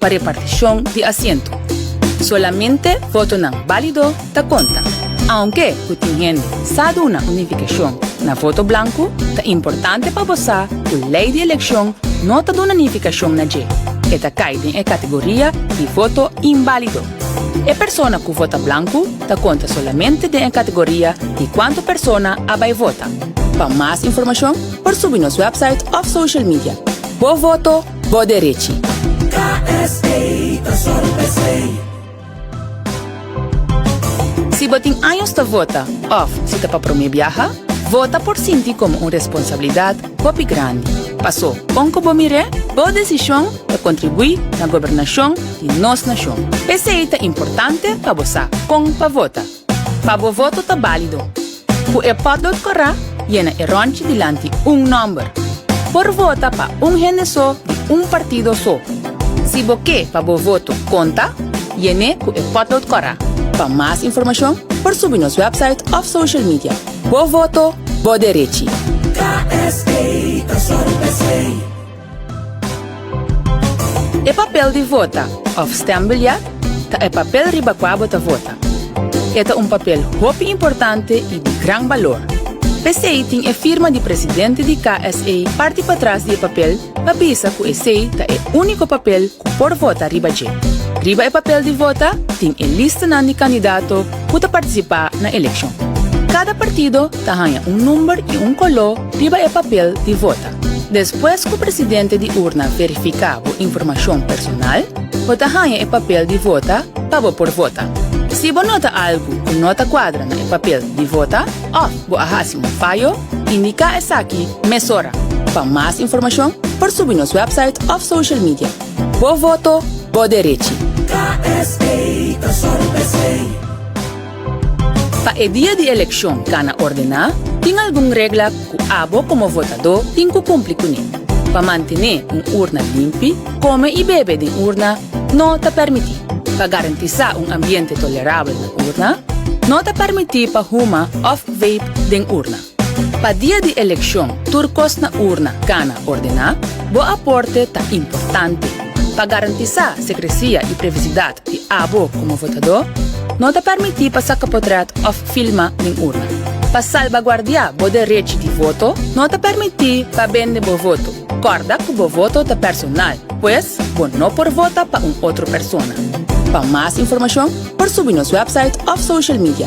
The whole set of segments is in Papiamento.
Pa repartishon di asiento, solamente votonan bálido ta konta. Aunke ku tin hende sa duna un nifikashon na voto blanku, ta importante pa bo sa ku lei di elekshon no ta duna nifikashon na dje. E ta kai den e kategoria di voto inbálido. E persona ku vota blanku ta konta solamente den e kategoria di kuantu persona a bai vota. Pa mas informashon por subi nos wèpsait òf social media. Bo voto Bo derechi. KSA ta sòru pa esei. Si bo tin años ta vota òf si ta pa promé biaha, vota por sinti komo un responsabilidat hopi grandi. Pasó, kon ku bo mir'é, bo desishon ta kontribuí na gobernashon di nos nashon. P'esei ta importante pa bo sa kon pa vota. Pa bo voto ta balido. Cu e potlood cora, yena e ronchi dilanti un nomber. Por vota pa un hende so di un partido so. Si bo ke pa bo voto conta, yene cu e potlood cora. Pa mas informacion por subi nos website of social media. Bo voto, bo derechi. KSA ta sor besey. E papel di vota òf stembiljet ta e papel riba kua bo ta vota. E ta un papel hopi importante i di gran balor. P'esei tin e firma di presidente di KSA parti patras di e papel pa bisa ku esei ta e úniko papel ku por vota riba dje. Riba e papel di vota tin e listanan di kandidato ku ta partisipá na elekshon. Kada partido ta haña un number i un koló riba e papel di vota. Despues ku presidente di urna verifiká bo informashon personal, bo ta haña e papel di vota pa bo por vota. Si bo nota algu ku no ta kuadra na e papel di vota òf bo a hasi un fayo, indiká esaki mesora. Pa mas informashon por subi nos wèpsait òf social media. Bo voto, bo derechi! KSA ta sòru bsei. Pa e dia di elekshon kana ordená, tin algun regla ku abo komo votadó tin ku kumpli kuné. Pa mantené un urna limpi, kome i bebe den urna no ta pèrmití. Pa garantisá un ambiente tolerabel na urna, no ta pèrmití pa huma òf vape den urna. Pa dia di elekshon tur kos na urna kana ordená. Bo aporte ta importante. Pa garantisá sekresia i privisidat di abo komo votadó, no ta pèrmití pa saka potrèt òf filma den urna. Pa salbaguardiá bo derech di voto, no ta pèrmití pa bende bo voto. Kòrda ku bo voto ta personal, pues bo no por vota pa un otro persona. Pa mas informashon por subi nos wèpsait òf social media.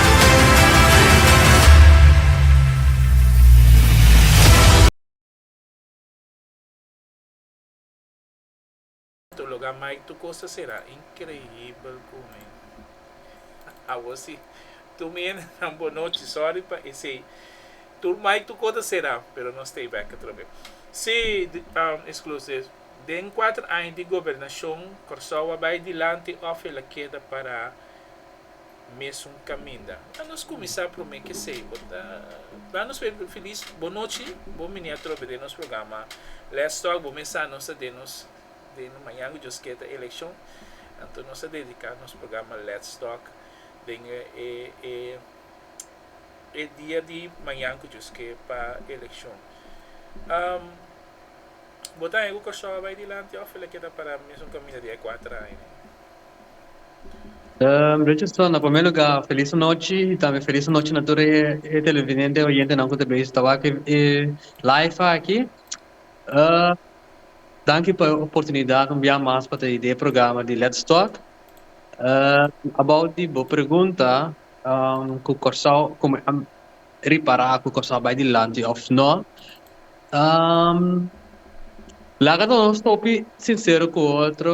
Tu lo ga mai tu cos ta cera increibel cu mi awor si tu mi hende nan bo nochi sorry pa esey tur mai tu cos ta cera pero nos stay back atrobe si exclusive den cuater aña di gobernacion Corsou a bay dilanti of e la keda para. mesun kaminda. Ta nos kuminsá promé k'esei. Bo ta ban nos p'e filis bonochi. Bo bini atrobe den nos programa Let's Talk. Bo mensá nos ta den nos den nos mañan ku Dios kier ta elekshon. Anto nos ta dediká nos programa Let's Talk den e e e e dia di mañan ku Dios kier pa elekshon. Am Bo ta haña ku Kòrsou a bai dilanti òf el a keda pará mesun kaminda di e kuater aña? Richardson, na prome lugá felis anochi i tambe felis anochi na tur e televidente, oyentenan ku ta bai ta wak e live aki. Danki pa e oportunidat un bia mas pa ta hidi e programa di Lets Talk. About di bo pregunta ku Kòrsou komo e ta ripará ku Kòrsou a bai dilanti òf nò. Laga nos hopi sinsero ku otro.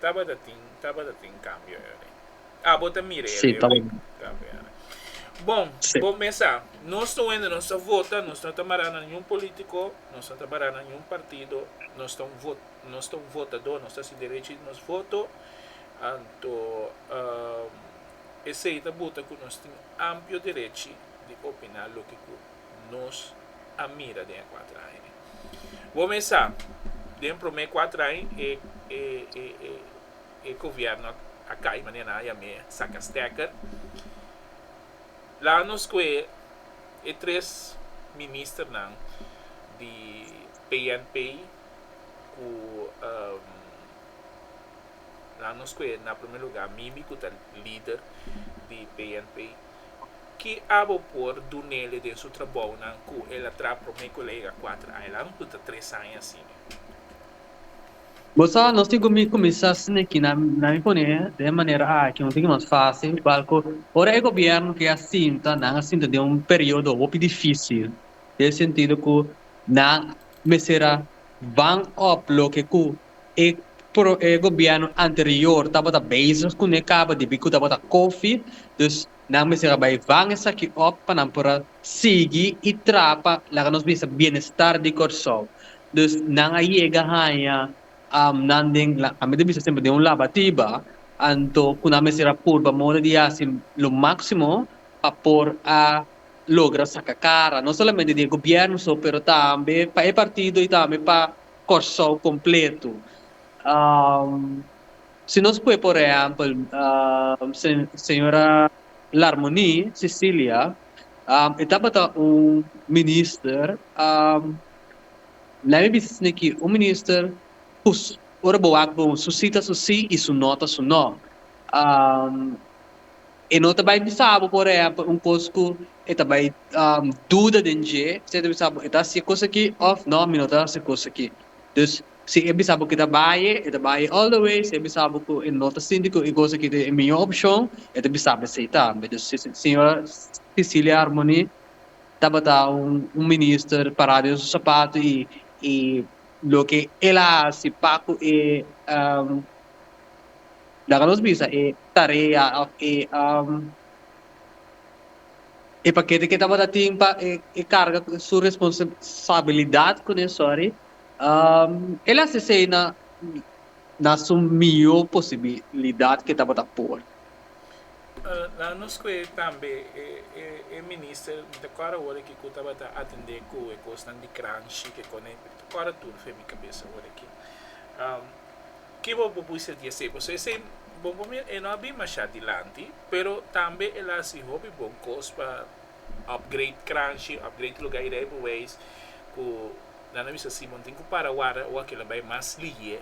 Tabata tin, tabata tin cambio ere. Ah, bo ta mira ere, Rick? Cambio ere. Bon, bo mesa, nos ta wende, nos ta vota, nos no ta mara na niun politico, nos no ta mara na niun partido, nos ta un vot, nos ta un votador, nos ta haci derecho di nos voto, anto esey ta buta cu nos tin amplio derechi di opina loke cu. nos a mira den e kuater aña dje. Bo mes sa, den promé kuater aña e e e e e gobièrnu a kai manera nan a yam'é saka stèker. Laga nos kohe e tres ministernan di PNP ku laga nos kohe na promé lugá Mimi ku ta lider di PNP. Ki abo por do Nelly den su trabounan ku el a traha promé kolega Cuatro Island ku ta tres aña asina. Bo sa, nos tin ku mi kuminsá sniki na na mi poné den e manera aki, un tiki mas fásil, igual ku ora e gobièrnu ke a sinta, nan a sinta den un periodo hopi difísil, den e sentido ku nan mester a. Ban op loke ku e e gobièrnu anterior tabata bezig kuné kaba di bi ku tabata kofi, dus nan mester a bai van esaki op pa nan por a sigui i traha pa laga nos bisa bienestar di Kòrsou. Dus nan a yega haña nan den la ami ta bisa semper den un labatiba anto ku nan mester a purba moda di hasi lo máksimo pa por a. logra saka kara no solamente di e gobierno so pero tambe pa e partido y tambe pa Kòrsou kompleto. Si nos pue por ehèmpel señora Larmonie Cecilia e tabata un minister lèt mi bisa asina aki un minister ora bo wak bo su si ta su si y su no ta su no. E no ta bai bisa bo por e hèpè un kos ku e ta bai duda den dje. Si e ta bisa bo e ta hasi e kos aki òf nò mi no ta hasi e kos aki. Dus si e bisa bo ku e ta bai e ta bai all the way. Si e bisa bo ku e no ta sinti ku e kos aki ta e mihó opshon e ta bisa bo e seitá. Dus señora Cecilia Harmony tabata un minister pará den su sapatu i loke el a hasi pa ku e laga nos bisa e Tarea of e um, e pakete ke tabata tin pa e, e karga su responsabilidat kuné sori um, el a sesei na na su mihó posibilidat ke tabata por. Nan nos kue tambe e, e, e minister, mi ta kòrda awor aki ku tabata atendé ku e kosnan di Granshi, ke kòrda tur fe mi kabes awor aki. Um. Ki bo bo bisa di esei? Pasobra esei bon pa mi e no a bin masha dilanti, pero tambe el a hasi hopi bon kos pa upgrade Kranshi, upgrade luga y de ahí pa wees cu nan a bisa Simon tin cu para warda o akela bay mas lihe.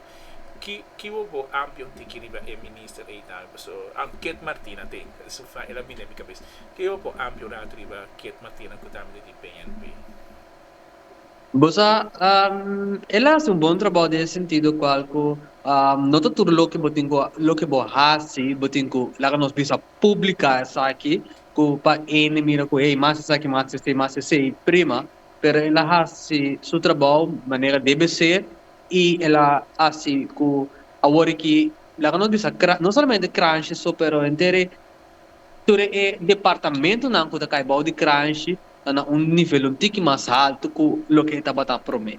Ki ki bo bo ampion tiki riba e minister ey tambe? Pasobra Kiet Martina te, es un fra el a bin den mi cabes. Ki bo bo ampion rato riba Kiet Martina cu tambe ta di PNP? Bo sa, el a hasi un bon trabou den e sentido kual ku no ta tur loke bo tin ku loke bo hasi bo tin ku laga nos bisa publika esaki ku pa hende mira ku hey mas esaki mas esei mas esei prima pero el a hasi su trabou manera debe ser i el a hasi ku awor aki laga nos bisa no solamente krantje so pero henter e Tur e departamentonan ku ta kai bou di Kranshi ta na un nivel un tiki mas haltu ku loke e tabata promé.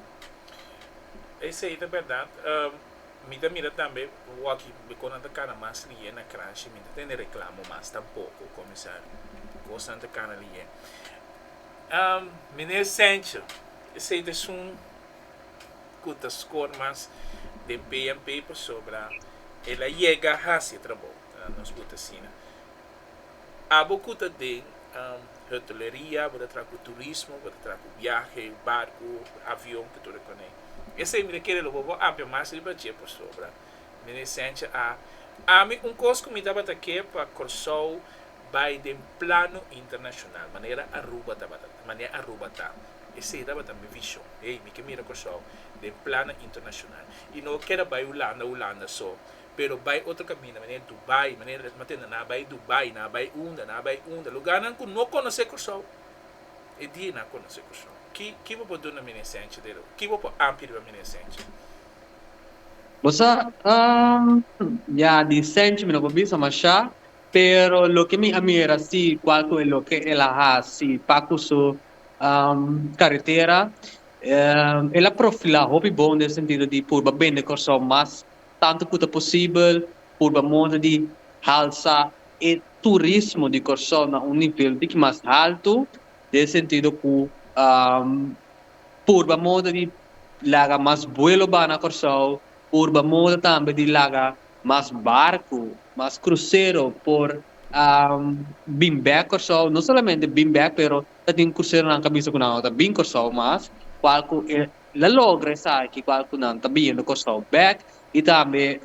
Esei ta bèrdat. Mi ta mira tambe wòki kon nan ta kana mas liye na Kranshi. Mi no ta tende reklamo mas tampoko, komisario. Kosnan ta kana liye. Miner Sèntje, esei ta esun ku ta skor mas den PNP pasobra el a yega hasi e trabou. nos bo ta sina. Abo ku ta den hoteleriya, bo ta traha ku turismo, bo ta traha ku biahe, barku, avion, ku tur e konei. Esei mi ta kere lo bo bo ampia mas riba dje pasobra mi resencha a Ami un kos ku mi tabata ke pa Kòrsou bai den plano internashonal, manera Aruba tabata ta, manera Aruba ta. Esei tabata mi vishon. Ei, mi ke mira Kòrsou den plano internashonal. I no keda bai Hulanda, Hulanda so. pero bai otro caminda manera Dubai manera esma te na bai Dubai na bai unda na bai unda lugarnan cu no conoce Cursao e dia na conoce Cursao ki ki bo por duna mene esencia de lo ki bo por ampi riba mene esencia. Bo sa um ya di esencia mi no por bisa masha pero loke mi a mira si cual cu e loke el a haci pa cu su um carretera um el a profila hopi bon den sentido di purba bende Cursao mas. Tantu ku ta posibel, purba monda di halsa e turismo di Kòrsou na un nivel biki mas haltu, den e sentido ku purba monda di laga mas buelo baha na Kòrsou, purba monda tambe di laga mas barku, mas krusero por bin bèk Kòrsou. No solamente bin bèk, pero ta tin kruseronan ku a bisa ku nan lo ta bin Kòrsou mas, kual ku e la logra esaki kua ku nan ta bini Kòrsou bèk i tambe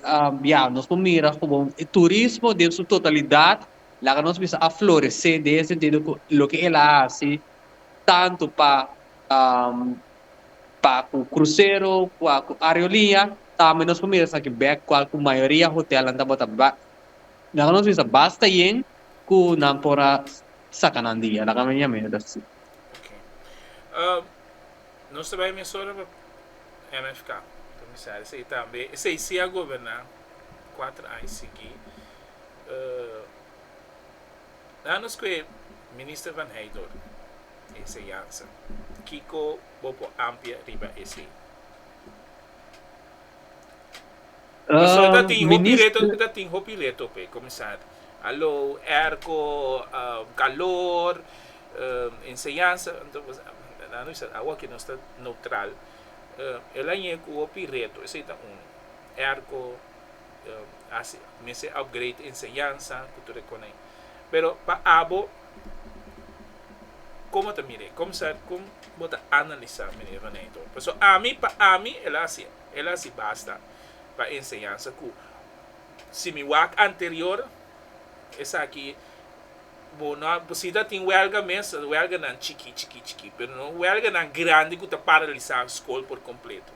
ya nos por mira komo e turismo den su totalidat laga nos bisa a floresé den e sentido ku loke el a hasi tantu pa pa ku krusero kua ku areoliña tambe nos por mira esaki bèk kua ku mayoria hotèlnan tabata laga nos bisa basta yen ku nan por a saka nan di ya laga mi ami ta si. Nos ta bai mes ora pa MFK, komisario sa i tambe esei si a goberná kuater aña siguí. Nan nos kue Minister Van Heydoor Enseñansa, kiko bo por ampia riba esei? Di so ta tin hopi reto, ta tin hopi reto pe, comenzando alo erco, calor, enseñansa, awa ke nos ta neutral, el a yega cu hopi reto, esey ta uno, erco, haci mester upgrade enseñansa cu tur e coney, pero pa abo como ta mir'e, comenzar con bo ta analiza meneer Venanito, pasobra ami pa ami el a haci. El a si basta pa enseñansa cu si mi wak anterior esaki bo no a si ta tin welga mes welganan chiki chiki chiki pero no welganan grandi cu ta paralisa scol por completo.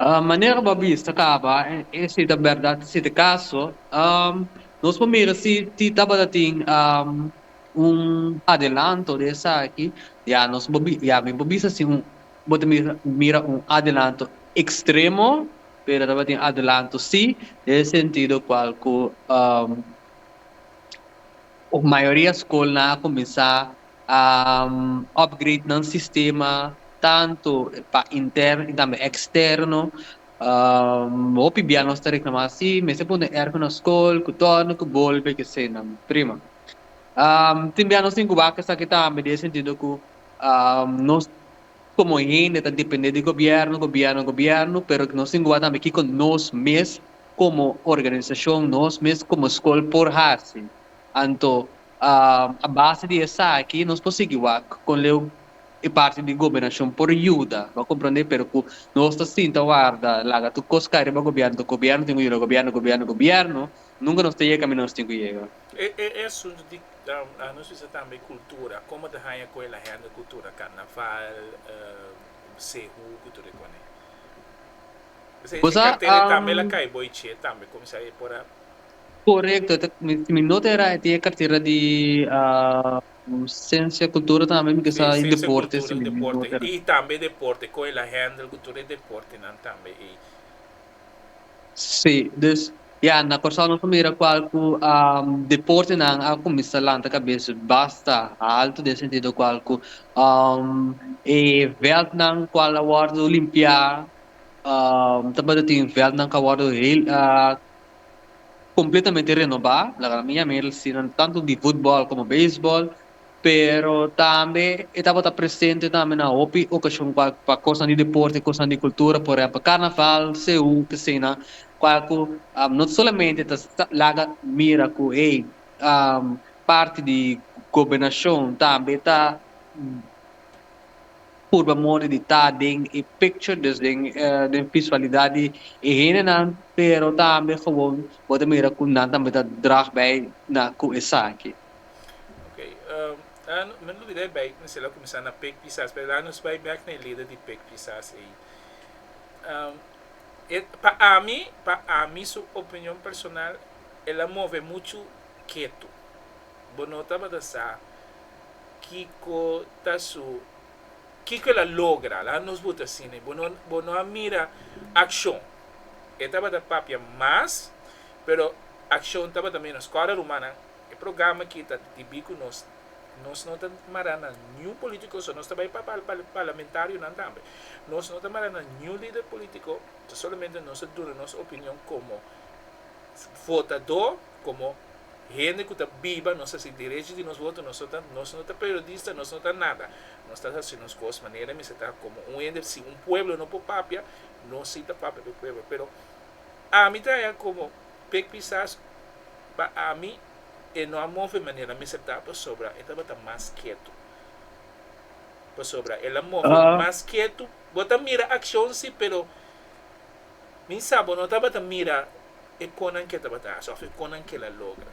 Manera bo a bisa caba e si ta berdad si ta caso nos por mira si ti tabata tin un adelanto di esaki ya nos por ya mi por bisa si un Bo ta mira un adelanto extremo, pero tabatin adelanto si, den e sentido cual cu mayoria scolnan a cuminsa a upgrade nan sistema, tanto pa interno y tambe externo. Hopi bia nos ta reclama, si, mester pone un erco na scol, cu torno, cu bolbe, kese nan. Prima. Tin bia nos tin cuba cu esaki tambe, den e sentido cu Nos komo hende ta dependé di gobièrnu, gobièrnu, gobièrnu, pero nos tin ku wak tambe kiko nos mes komo organisashon, nos mes komo skol por hasi. Anto, a base di esaki nos por sigui wak kon leu e parti di gobernashon por yuda, bo a komprondé, pero ku nos ta sinta warda laga tur kos kai riba gobièrnu, gobièrnu tin ku yuda, gobièrnu, gobièrnu, gobièrnu, nunka nos ta yega kaminda nos tin ku yega. E asuntu di nos bisa tambe cultura, como ta haya cu e la hende cultura carnaval, sehu cu tur e cone. P'esei e cartera e tambe la cay bo iche tambe como sa e por a. Correcto, si mi nota era e tin e cartera di Ciencia y Cultura tambe mi kisa y Deporte si mi nota era. Y tambe deporte, con e la handle cu tur e deportenan tambe ey. Sí, dus ya na Kòrsou nos a mira kual ku deportenan a kuminsá lanta kabes basta haltu den sentido kual ku e vèldnan kual a wòrdu limpiá tabata tin vèldnan ku a wòrdu kompletamente renobá, laga mi a mira asina, tantu di futbòl komo beisbòl. Pero tambe e tabata presente tambe na hopi okashon kua pa kosnan di deporte, kosnan di kultura, por ehèmpel karnaval, seú, esena kual ku no ta solamente ta laga mira ku hey parti di gobernashon tambe ta purba modi di ta den e picture dus den den visualidat di e hendenan pero tambe gewoon bo ta mira ku nan tambe ta drag bai na ku esaki. Oké, la no, men lo bira e bèk mester la kuminsá na pek pisas, pero la nos bai bèk na e lida di pek pisas ei. E, pa ami, pa ami su opinion personal, el a move muchu ketu. Bo no tabata sa kiko ta su, kiko el a logra, la nos buti asina. Bo no, bo no a mira akshon. E tabata papia mas, pero akshon tabata ménos. Kòrda rumannan? E programa aki ta debí ku nos nos no ta mará na niun polítiko, so nos ta bai pa parlamentarionan tambe. Nos no ta mará na niun lider polítiko, ta solamente nos ta duna nos opinion komo votadó, komo hende ku ta biba, nos hasi derechi di nos voto, nos no ta nos no ta periodista, nos no ta nada. Nos ta hasi nos kos manera mester ta, komo un hende si un pueblo no por papia, nos si ta papia pa e pueblo. Pero ami ta haña komo. Pe kisas pa ami e no a move manera mi sa ta pasobra e tabata mas ketu. Pasobra el a move mas ketu. Bo ta mira akshon si, pero mi sa bo no tabata mira e konan ke tabata hasi òf e konan ke el a logra.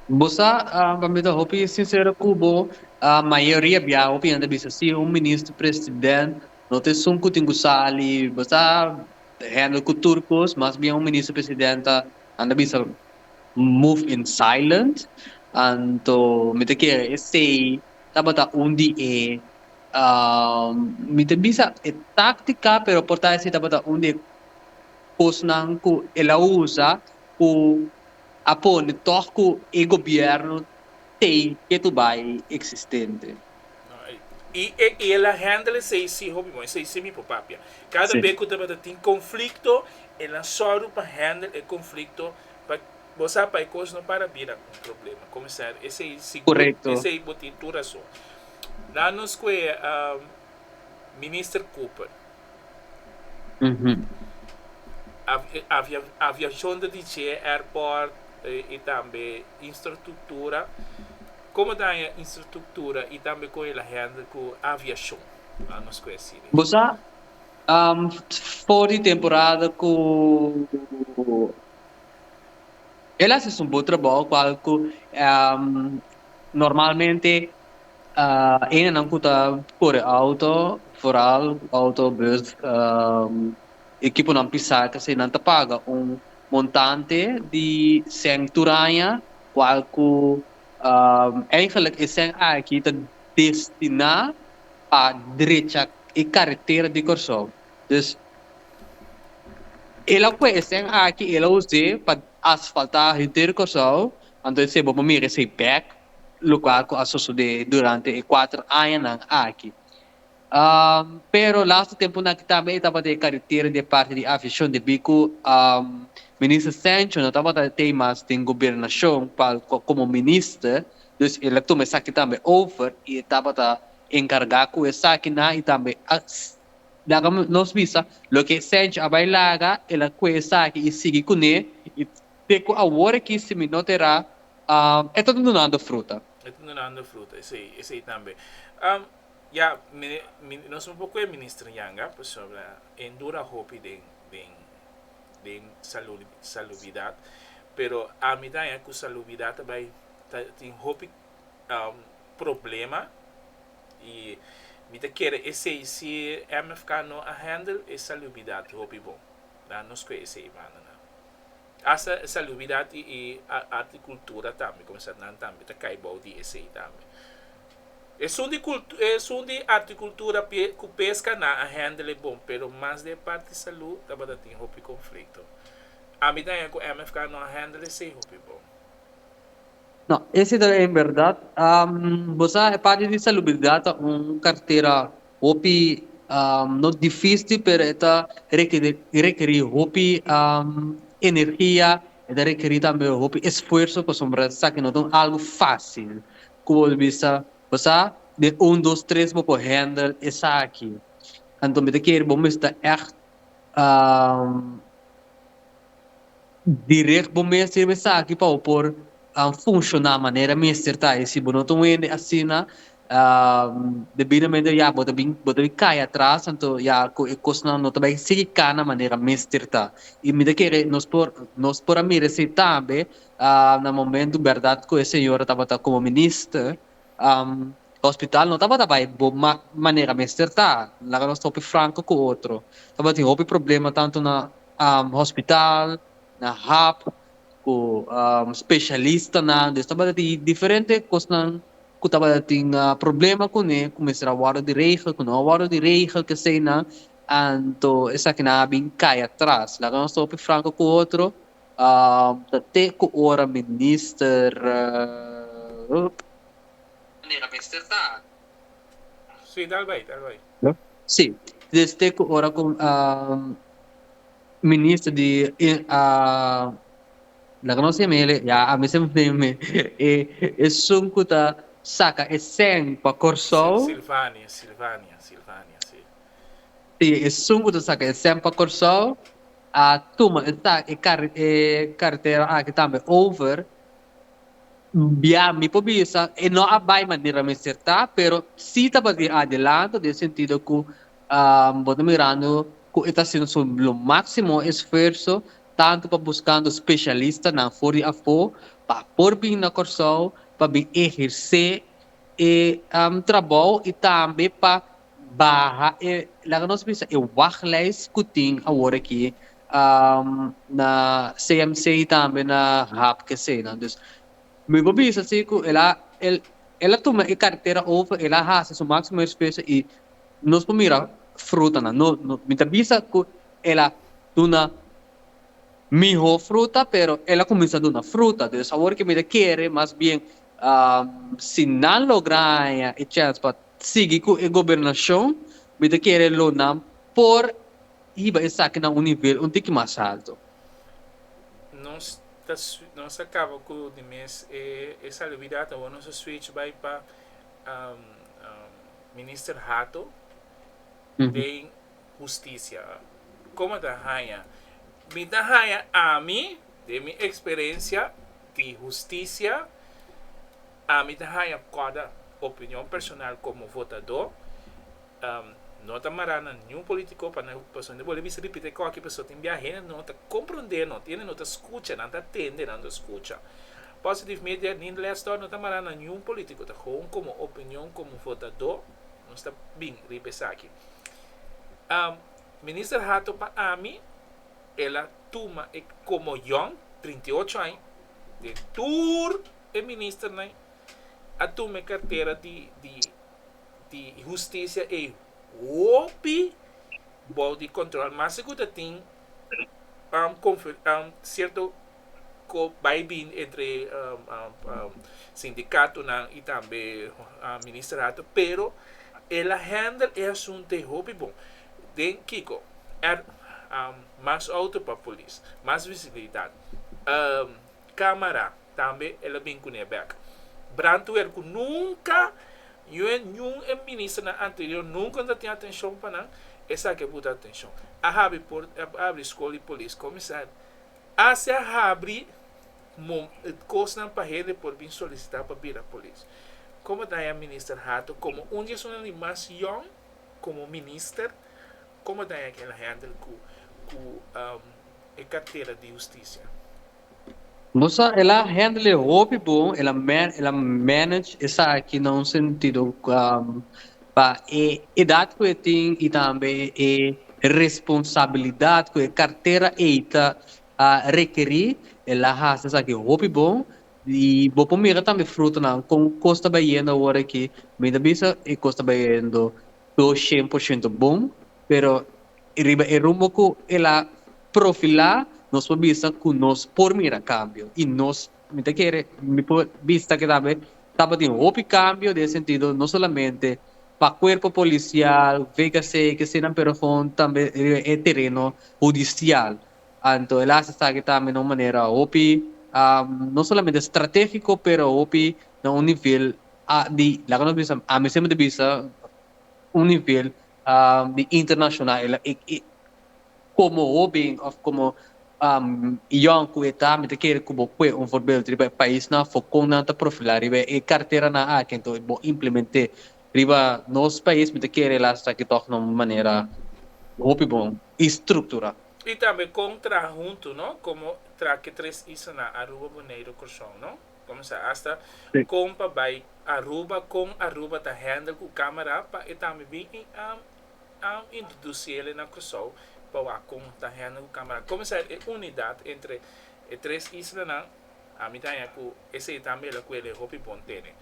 Bo sa, pa mi ta hopi sinsero ku bo, mayoria bia hopi hende bisa si un minister, president. No ta esun ku tin ku sali basta handle ku tur kos, mas bien un minister president a anda bisa move in silent. Anto mi ta kere esei tabata un di e mi ta bisa e táktika pero por ta esei tabata un di e kosnan ku el a usa ku a pone tòg ku e gobièrnu tei ke tu bai eksistente. I e el a handle seis hijo mi bon, seis mi por papia. Cada sí. be ku tabata tin conflicto, el a soru pa handle e conflicto pa bo sa pa e cos no para bira un problema. Como sa, ese i seguro, Correcto. ese i botin tu razón. Na nos kue um, minister Cooper. Aviacion ta dicié airport y tambe instructura. Como ta aña instructura y tambe con e la hende cu aviacion? Nan nos cu esi di. Bo sa, for di temporada cu el a haci su bo trabajo cual cu normalmente. Enanan ku ta kore outo, vooral outo, bus, e kiponan pisá ta si nan ta paga un montante di sèn turaña kual ku eingelik e sèn aki ta destiná pa drecha e karetera di Kòrsou. Dus el a kue e sèn aki el a us'é pa asfaltá henter Kòrsou, anto esei bo por mira esei bèk lo cual cu a sosode durante e cuater añanan aki. Pero laster temponan aki tambe e tabata e caritera di e parti di aviacion debi cu Minister Sancho no tabata tey mas den Gobernacion como Minister, dus el a tuma esaki tambe over y e tabata encarga cu esakinan y tambe laga nos bisa loke Sancho a bay laga el a cu esaki y sigui cune y Te cu aworaki si mi no te ra, e ta dunando fruta. E ta dunando fruta, esey, esey tambe. Ya, mi, mi, nos un poco e minister yanga, pasobra e dura hopi den, den, den salu, salubridad, pero ami ta haña cu salubridad ta bay, ta tin hopi problema, y mi ta kere esey, si MFK no a handle e salubridad hopi bon, dan nos cu esey banda nan. Hasta salubidat y y art y cultura tambe comenzar nan tambe ta cay bao di esey tambe. Esun di cultu esun di art y cultura pie cu pesca nan a handle bon pero mas den part di salud tabata tin hopi conflicto. Ami ta hen cu MFK no a handle esey hopi bon. No, ese ta e berdad. Bo sa, e parti di salubridad ta un cartera hopi, no difisti, pero e ta requeri hopi energia, e ta requeri tambe hopi esfuerso, pasobra esaki no ta un algo facil cu bo por bisa, bo sa, den un, dos, tres bo por handle esaki. Anto mi ta kere bo mester echt Direct bo mester yebe esaki pa bo por funciona manera mester ta. Y si bo no ta un hende asina debidamente ya bo ta bin bo ta bin cay atras anto ya cu e cosnan no ta bay sigui cana manera mester ta. Y mi ta kere nos por nos por a mira esey tambe na momento berdad cu e Señor a tabata como minister Hospital no tabata bai bo mak manera mester ta, laga nos ta hopi franko ku otro. Tabatin hopi problema tantu na hospital, na hap, ku spesialistanan. Des tabatatin diferente kosnan ku tabatatin problema kuné ku mester a wòrdu diregel, ku no a wòrdu diregel keseinan. Anto esakinan a bin kai atras. Laga nos ta hopi franko ku otro. Ta te ku ora minister ta. Manera mester ta. Sí, dal bai, dal bai. Sí, des te ku ora ku minister di la ku nos tin mele ya a mester mester mi esun ku ta saka e sèn pa Kòrsou. Silvania, Silvania, Silvania, sí. Si esun cu ta saca exam pa Corsou a tuma e carretera aki tambe over, bia mi por bisa e no a bay manera mester ta, pero si ta ba di adelanto den sentido cu bo ta mirando cu e ta haciendo su lo maximo esfuerzo tanto pa buscando specialistanan for di afo pa por bin na Corsou pa bin eherce e trabou y tambe pa Baha e, laga nos bisa e wachlijst ku tin awor aki na CMC i tambe na HAPKC. Dus mi por bisa si ku el a el a tuma e kartera over, el a hasi su máksimo esfuerso i nos por mira frutanan. No, no, mi ta bisa ku el a duna mihó fruta, pero el a kuminsá duna fruta. Dus awor ke mi ta kere mas bien si nan logra haña e chèns pa sigui cu e gobernacion, mi ta kere lo nan por hiba esaki na un nivel un tiki mas alto. Nos ta nos a caba cu di mes e e salubidad awor nos a switch bay pa Minister Hato den Husticia. Como a ta haya? Mi ta haya ami den mi experiencia di Husticia. Ami ta haña koda opinion personal komo votadó, no ta mará na niun polítiko pa nan pasobra nan bolbe bisa ripit'é kò aki pasobra tin bia hende no ta komprondé no, tin hende no ta skucha, nan ta tende, nan ta skucha. Positive Media ni Les Dot no ta mará na niun polítiko, ta gewoon komo opinion komo votadó nos ta bin riba esaki. Minister Hato pa ami el a tuma e komo yòn, trinta i ocho aña, den tur e ministernan a tuma e kartera di di di hustisia ei hopi bou di kòntròl. Mas si ku ta tin sierto ku bai i bini entre sindikatonan i tambe ministerato pero e la hèndel e asuntu ei hopi bon. Den kiko? Mas outo pa polis, mas visibilidat. Camera tambe el a bin cune bek. Brantweer cu nunca uen niun e ministernan anterior nunca no ta tin atencion pa nan esaki a buta atencion. A habri port a habri school di police comisar assi a habri cosnan pa hende por bin solicita pa bira police. Como daña minister Hato como un di esunnan di mas yong como minister como daña kilahendel cu cu e cartera di husticia. Bo sa el a handle hopi bon el a el a manage esaki na un sentido pa e edad cu e tin y tambe e responsabilidad cu e cartera ey ta rekeri el a haci esaki hopi bon y bo por mira tambe frutonan con cos ta bayendo awor aki mi ta bisa e cos ta bayendo dos shen por shento bon pero I riba e rumbo ku el a profilá nos por bisa ku nos por mira kambio i nos mi ta kere mi por bisa ke tambe tabatin hopi kambio den e sentido no solamente pa kuerpo polisial, VKC, kesenan pero kon tambe riba e tereno hudisial anto el a hasi esaki tambe na un manera hopi no solamente stratégiko pero hopi na un nivel di laga nos bisa ami semper ta bisa un nivel di internashonal e la ik ik. Komo hóben òf komo yòn ku e ta, mi ta kere ku bo kue un forbeldu riba e paisnan afó kon nan ta profilá riba e karteranan aki. Anto bo implement'é riba nos pais, mi ta kere e lasta aki tòg na un manera hopi bon i strukturá. I tambe kon traha huntu, no? Komo traha ki tres islanan, Aruba, Boneiru, Kòrsou, no? Comenzá hasta con pa bay Aruba, con Aruba ta handle cu camera pa e tambe bin introducele na Curaçao pa wak con ta handle cu camera. Comenzá e unidad entre e tres islanan, ami ta haña cu esey tambe el a cu eley hopi bon tene.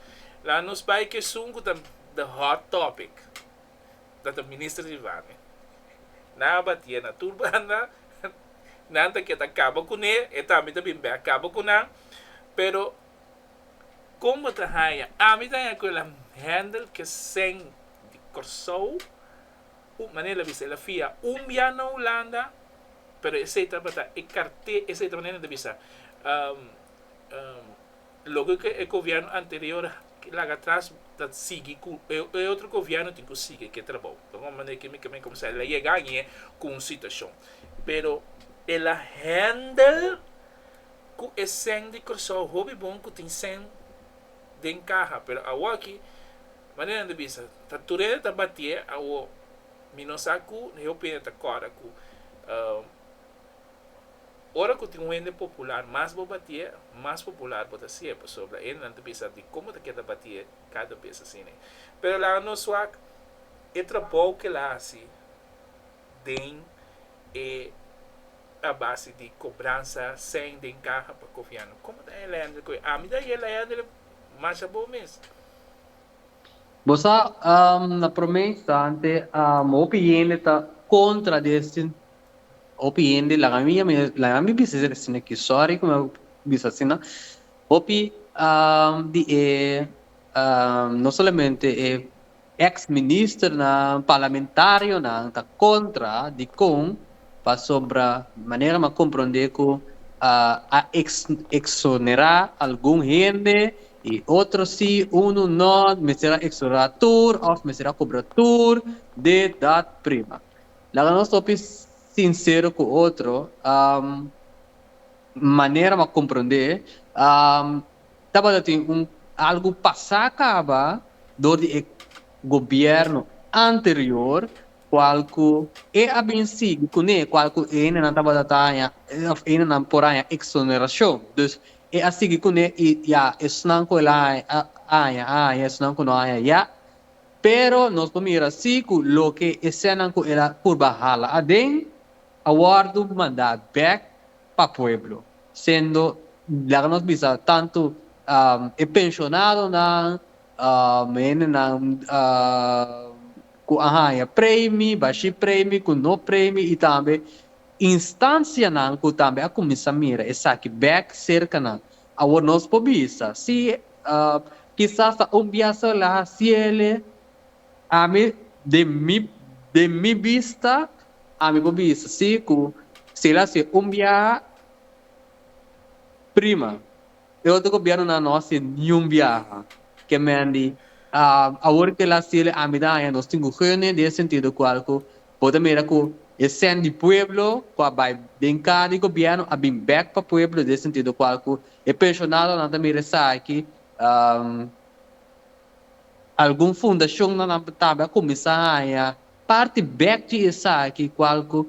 Laga nos bay cu esun cu ta the hot topic. nan ta minister di Vane nan a batié na tur banda nan ta ke ta kaba kuné e tambe ta bin bek kaba ku nan pero kon bo ta haña ami ta haña ku el am hendel ke sèn di Kòrsou un manera el a bisa el a fia un bia na Hulanda pero esei tabata e karté esei ta manera nan ta bisa Loke ke e gobièrnu anterior laga atras ta sigui ku e otro gobièrnu tin ku sigui ke trabou. Lo bon manera ke mi ke mi kuminsá el a yega aña ku un situashon pero el a hèndel ku e sèn di Kòrsou hopi bon ku tin sèn den kaha pero awor aki manera nan ta bisa ta tur hende ta batié awor mi no sa ku hopi hende ta kòrda ku. Ora cu tin un hende popular mas bo batié, mas popular bo ta siye, pasobra hendenan ta bisa di con bo ta keda batié cada bes asina. Pero laga nos wak e trabou cu el a haci den e a base di cobransa seny den caha pa Goviano. Como ta elende cu e? Ami ta haci elende masha bo mes. Bo sa, na prome instante, hopi hende ta contra di e Hopi hende laga mi ya mi laga mi bisa esaki sino ke sorry ku mi a bisa asina hopi di e no solamente e ex ministernan parlamentarionan ta kontra di kon pasobra manera mi a kompronde ku a eksonerá algun hende i otro si unu no mester a eksonerá tur òf mester a kobra tur dit dat prima. Laga nos hopi sinsero ku otro, manera m'a komprondé tabata tin un algu pasá kaba dor di e gobièrnu anterior kual ku e a bin sigui kuné kual ku e hendenan tabata ta haña òf e hendenan por haña eksonerashon. Dus e a sigui kuné i ya esnan ku el a haña a haña esnan ku no a haña ya Pero nos por mira si cu loke esenan cu el a purba hala aden a wordo manda bek pa pueblo, siendo, laga nos bisa, tanto e pensionadonan, hendenan cu a haya premi, bashi premi, cu no premi y tambe instancianan cu tambe a cuminsa mira esaki bek cerca nan. Awor nos por bisa, Sí, kisas ta un bia sola hasiele. Ami, den mi, den mi bista, ami por bisa sí, ku si el hasié un bia, prima. E otro gobièrnunan no hasié niun biaha. Ke men di, Awor ku el hasié, ami ta haña nos tin gugene den e sentido kual ku, Bo ta mira cu e cen di pueblo cu a bay den car di gobierno a bin bek pa pueblo den e sentido cual cu e pensionado nan ta mira esaki algun fundacion nan nan tambe a cuminsa haya parti bek di esaki cual cu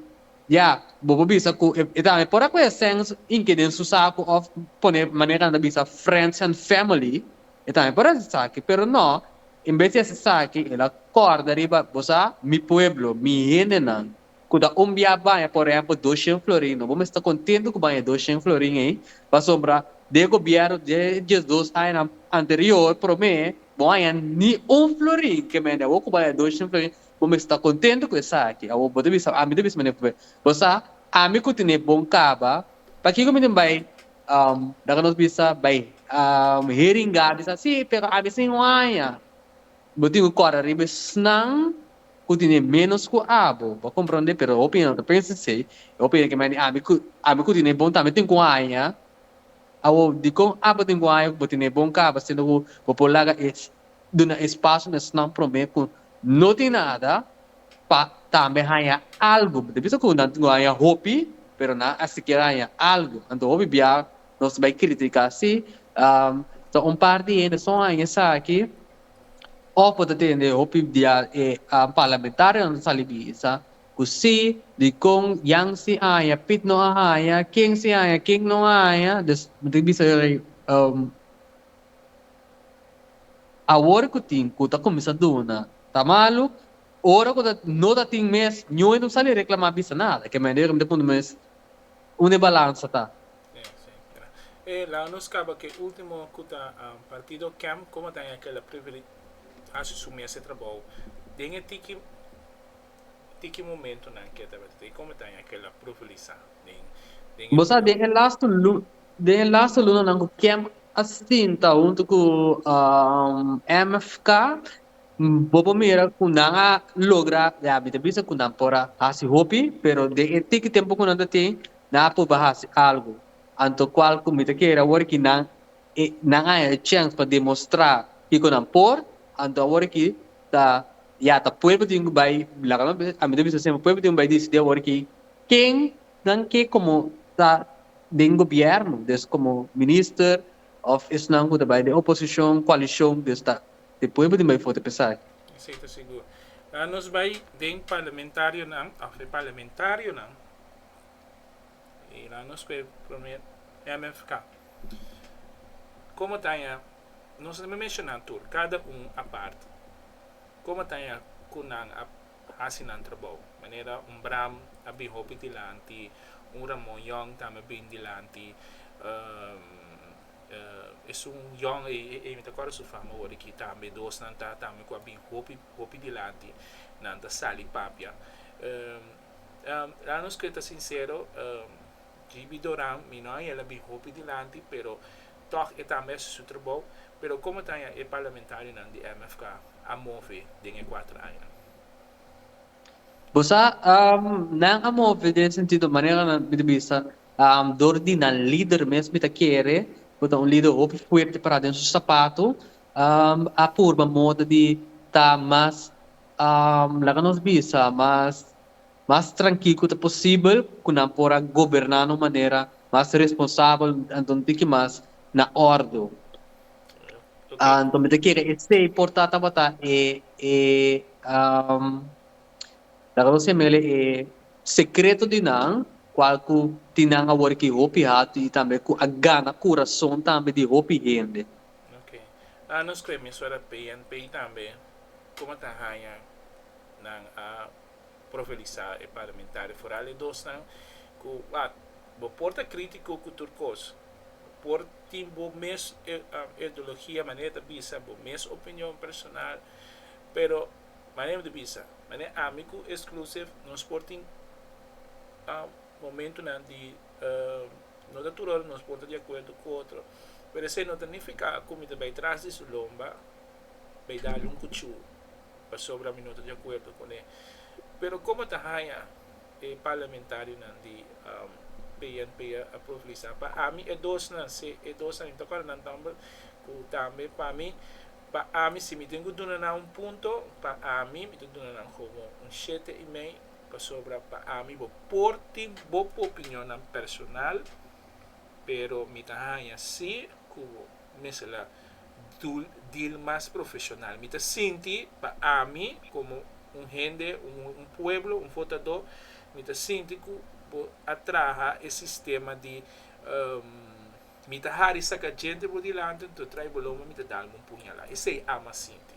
ya bo por bisa cu e tambe por a coge e cen hinki den su saco of pone manera nan ta bisa friends and family e tambe por a esaki pero no En bes di hasi esaki, el a kòrda riba, Bo sa, mi pueblo, mi hendenan, ku ta umbiá baña, por ehèmpel, dos shen florin, no bo mester kontentu ku baña dos shen florin ei, pasobra den e gobièrnu dje diesdos añanan anterior promé, bo no a haña ni un florin ke mende. Awor ku baña dos shen florin, bo mester ta kontentu ku esaki. Awor, bo ta bisa, ami ta bisa manera p'e, Bo sa, ami ku tene bon kaba, pakiko mi tin bai? Daka nos bisa bai hearing ga bisa si pero a bisa in waña bo tin ku kòrda riba esnan ku tene ménos ku abo bo a komprondé pero hopi hende ta pensa esei e hopi hende ke mandi ami ku ami ku tene bon tambe tin ku haña awo dikon abo tin ku haña ku bo tene bon kaba sinda ku bo por laga e duna espacio na esnan prome cu no tin nada pa tambe haya algo. Bo ta bisa cu nan tin cu haya hopi pero nan a sikier haya algo. Anto hopi bia nos bay critica si ta un par di hende so haya esaki of bo ta tende hopi dia e parlamentario nan ta sali bisa cu si, dicon, yan si haya, pit no a haya, ken si haya, ken no haya. Bo ta bisa Awor cu tin cu ta cuminsa duna ta malu, ora cu no ta tin mes nioe no sali reclama bisa nada, ke mende yoga mi ta puntra mes unda e balansa ta. E laga nos caba cu e ultimo cu ta Partido Camp, como ta Ekel a preferi haci su mes e trabao den e tiki. Ti ki momento nan ke tabata ta y como ta haña kela profelisa den den e Bo sa den e lastu den e lastu luna nan ku kem a sinta huntu ku MFK bo por mira ku nan a logra ya mi ta bisa ku nan por a hasi hopi pero den e tiki tempu ku nan ta tin nan a pruba hasi algu anto kual ku mi ta kere awor aki nan nan a haña e chèns pa demostra kiko nan por anto awor aki ta Ya ta pueblo tin cu bay laga no a mi ta bisa siempre pueblo tin cu bay dicidi awor ki ken nan ke como ta den gobierno des como minister of esnan cu ta bay den oposicion coalicion des ta tin pueblo tin bay foto pesa aki. Esey ta sigur. Laga nos bay den parlamentarionan of den parlamentarionan y laga nos cu e prome MFK. Como ta aña nos no ta menshonan tur cada un aparte. Como ta e cu nan a haci nan trabao? Manera un Bram a bin hopi dilanti, un Ramon Young tambe a bin dilanti. Esun Young ey, ey mi ta acorda su fama ora aki tambe. Dos nan ta tambe cu a bin hopi, hopi dilanti. Nan ta sali papia. Laga nos cuenta sincero, JB Doran, mi no a yela bin hopi dilanti, pero. Tòg e ta mester su trabou, pero komo ta haña e parlamentarionan di MFK a move den e kuater aña? Bo sa, nan a move den e sentido manera nan mi ta bisa, dor di nan lider mes mi ta kere, ku ta un lider hopi fuerte pará den su sapato, a purba moda di ta mas, laga nos bisa, mas. mas trankil ku ta posibel ku nan por a goberná na un manera mas responsabel, anto no tin ki mas na òrdu. Anto mi ta kere esei por ta tabata e e laga nos siña mele e sekreto di nan kual ku tin nan awor aki hopi hatu i tambe ku a gana kurason tambe di hopi hende. Oke. A nos kuemisora PNP tambe, komo ta haña nan a profelisá e parlamentario foral e dosnan ku a bo por ta krítiko ku tur kos, bo por tin bo mes ideologia manera ta bisa, bo mes opinion personal, pero manera mi ta bisa, manera ami ku Exclusive nos por tin momentunan di no ta tur ora nos por ta di akuerdo ku otro, pero esei no ta nifiká ku mi ta bai tras di su lomba bai dal un kuchú. pasobra mi no ta di akuerdo con e. Pero como ta haña e parlamentarionan di PNP a proflisa pa ami e dosnan se e dosnan mi ta cuadra nan nomber cu tambe pa mi pa ami si mi tin cu duna nan un punto pa ami mi ta duna nan como un shete y mei pasobra pa ami bo por tin bo opinionnan personal pero mi ta haña si cu bo mester la dul deal mas profesional mi ta sinti pa ami como un hende un pueblo un fotado mi ta sinti cu bo a traha e sistema di mi ta hari saca gente bo dilanti nto trae bo loma mi ta dal bo un puñala esey ama a sinti.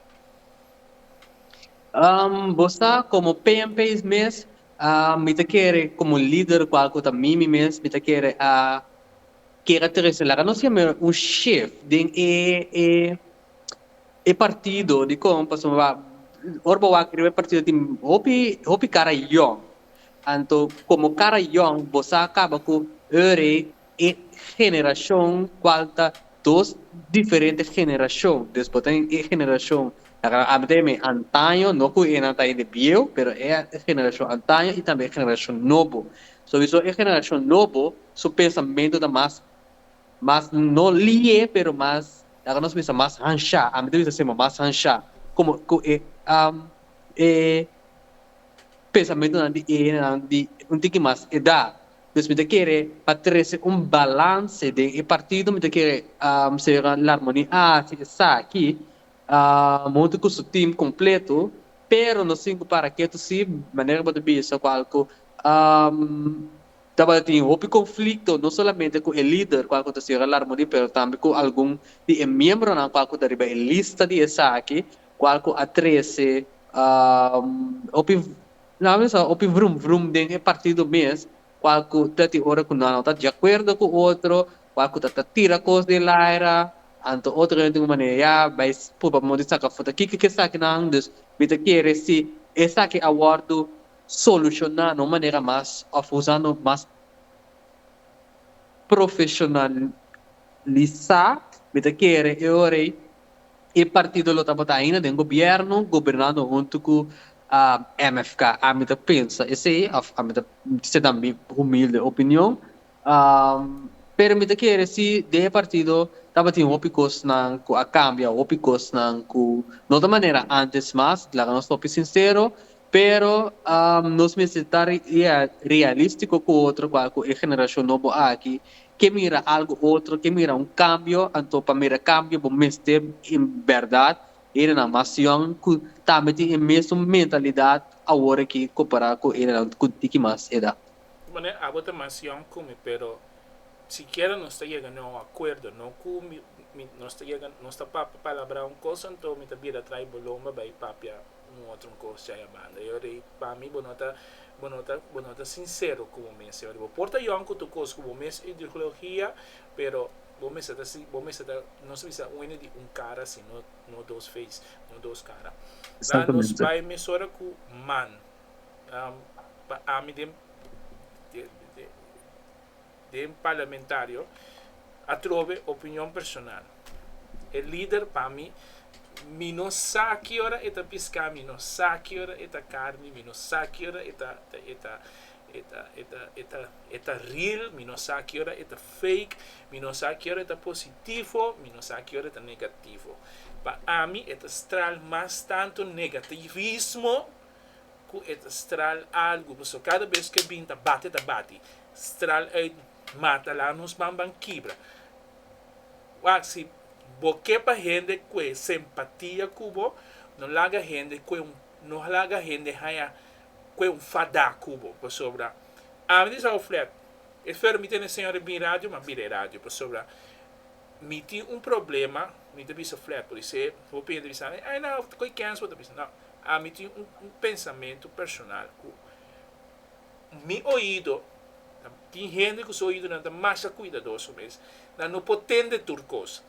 Bo sa como pmp's mes mi ta kere como lider cual cu ta mimi mes mi ta kere a Kera trese laga nos hende un shif den e e e partido dikon pasobra ora bo wak riba e partido tin hopi hopi kara yòn anto komo kara yòn bo sa kaba ku ere e generashon kual ta dos diferente generashon des bo ta den e generashon laga nan habla den mi antaño no ku e nan ta hende bieu pero e generashon antaño i tambe e generashon nobo Souiso e generashon nobo su pensamentu ta mas mas no lié pero mas laga nos bisa mas hanshá, ami ta bisa asina bo mas hanshá komo ku e e pensamentunan di e hinennan di un tiki mas edá. Pues mi ta kere pa trese un balanse den e partido mi ta kere Señora Larmony a hasi esaki huntu ku su team kompletu pero no sin ku para ketu si manera ku bo ta bisa ku algu Tabata tin hopi konflikto no solamente ku e lider kua ku ta sierra Larmoni pero tambe ku algun di e miembronan kua ku ta riba e lista di esaki kua ku a trese hopi nan mester sa hopi vrum vrum den e partido mes kua ku ta tin ora ku nan no ta di akuerdo ku otro kua ku ta ta tira kos den el aera anto otro hende un manera ya bai pruba modo di saka futa kiko ke esakinan dus mi ta kere si esaki a wòrdu solucionano manera mas of usando mas profesionalisa. Mi ta kere e ora ei e partido lo tabata ainda den gobierno gobernando hunto cu mfk. Ami ta pensa esey of ami ta seta mi humilde opinion. Pero mi ta kere si den e partido tabatin hopi cosnan cu a cambia, hopi cosnan cu no ta manera antes mas, laga nos topi sincero. Pero nos mester ta realístiko ku otro kua ku e generashon nobo aki ke mira algu otro, ke mira un kambio, anto pa mira kambio bo mester en bèrdat erenan masión ku tambe tin e mesun mentalidat awor aki kompará ku erenan ku tiki mas edat. Pone abo ta masión ku mi pero sikiera nos ta yega na un akuerdo, no ku mi nos ta yega nos ta palabrá un kos anto mi ta bira trai bo lomba bai papia. Un otro cos chaya banda yo rey pa mi bo no ta bo no ta bo no ta sincero cu bo mes yo rey bo por ta young cu tur cos cu bo mes ideologia pero bo mester ta si bo mester ta nos bisa un hende di un cara si no no dos face no dos cara la nos bay mesora cu man pa ami den. den parlamentario atrobe opinion personal e lider pa mi mi no sa ki ora e ta pisca mi no sa ki ora e ta carni mi no sa ki ora e ta e ta e ta e ta e ta e ta real mi no sa ki ora e ta fake mi no sa ki ora e ta positivo mi no sa ki ora e ta negativo pa ami e ta straal mas tanto negativismo ku e ta stral algu, pasobra kada bes ku e bin ta bati, ta bati, stral uit mata la nos banban kibra. Wak, si bo ke pa hende ku e sempatia ku bo, no laga hende ku e un, no laga hende haña ku e un fadá ku bo, pasobra ami di Sao Flat, esper mi tene señor e bin radio, m'a bira e radio, pasobra mi tin un problema, mi ta bisa Flat, por isei hopi hende ta bisa, ai na, koikens bo ta bisa, no. Ami tin un un pensamentu personal ku mi oido ta tin hende ku su oidonan ta masha kuidadoso mes nan no por tende tur kos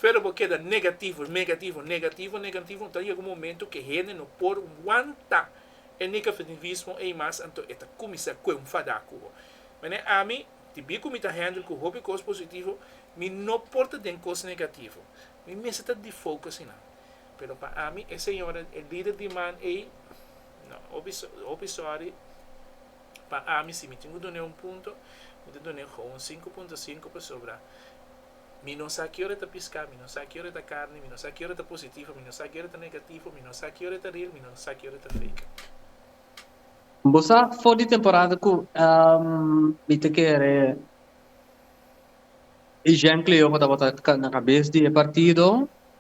pero bo keda negativo negativo negativo negativo ta yega un momento ke hende no por wanta e negafitivismo ei mas anto e ta kuminsá ku enfadá ku bo manera ami di bir ku mi ta handle ku hopi kos positivo mi no por ta den kos negativo mi mester ta difouka asina Pero pa ami e señora e lider di man ey no hopi hopi sorry pa ami si mi tin cu dun'e un punto mi ta dun'e con un cinco punto cinco pasobra mi no sa kiora e ta pisca mi no sa kiora e ta carni mi no sa kiora e ta positivo mi no sa kiora e ta negativo mi no sa kiora e ta real mi no sa kiora e ta fake. Bo sa for di temporada cu mi ta kere ejemplo yo bo ta bota na cabes di e partido.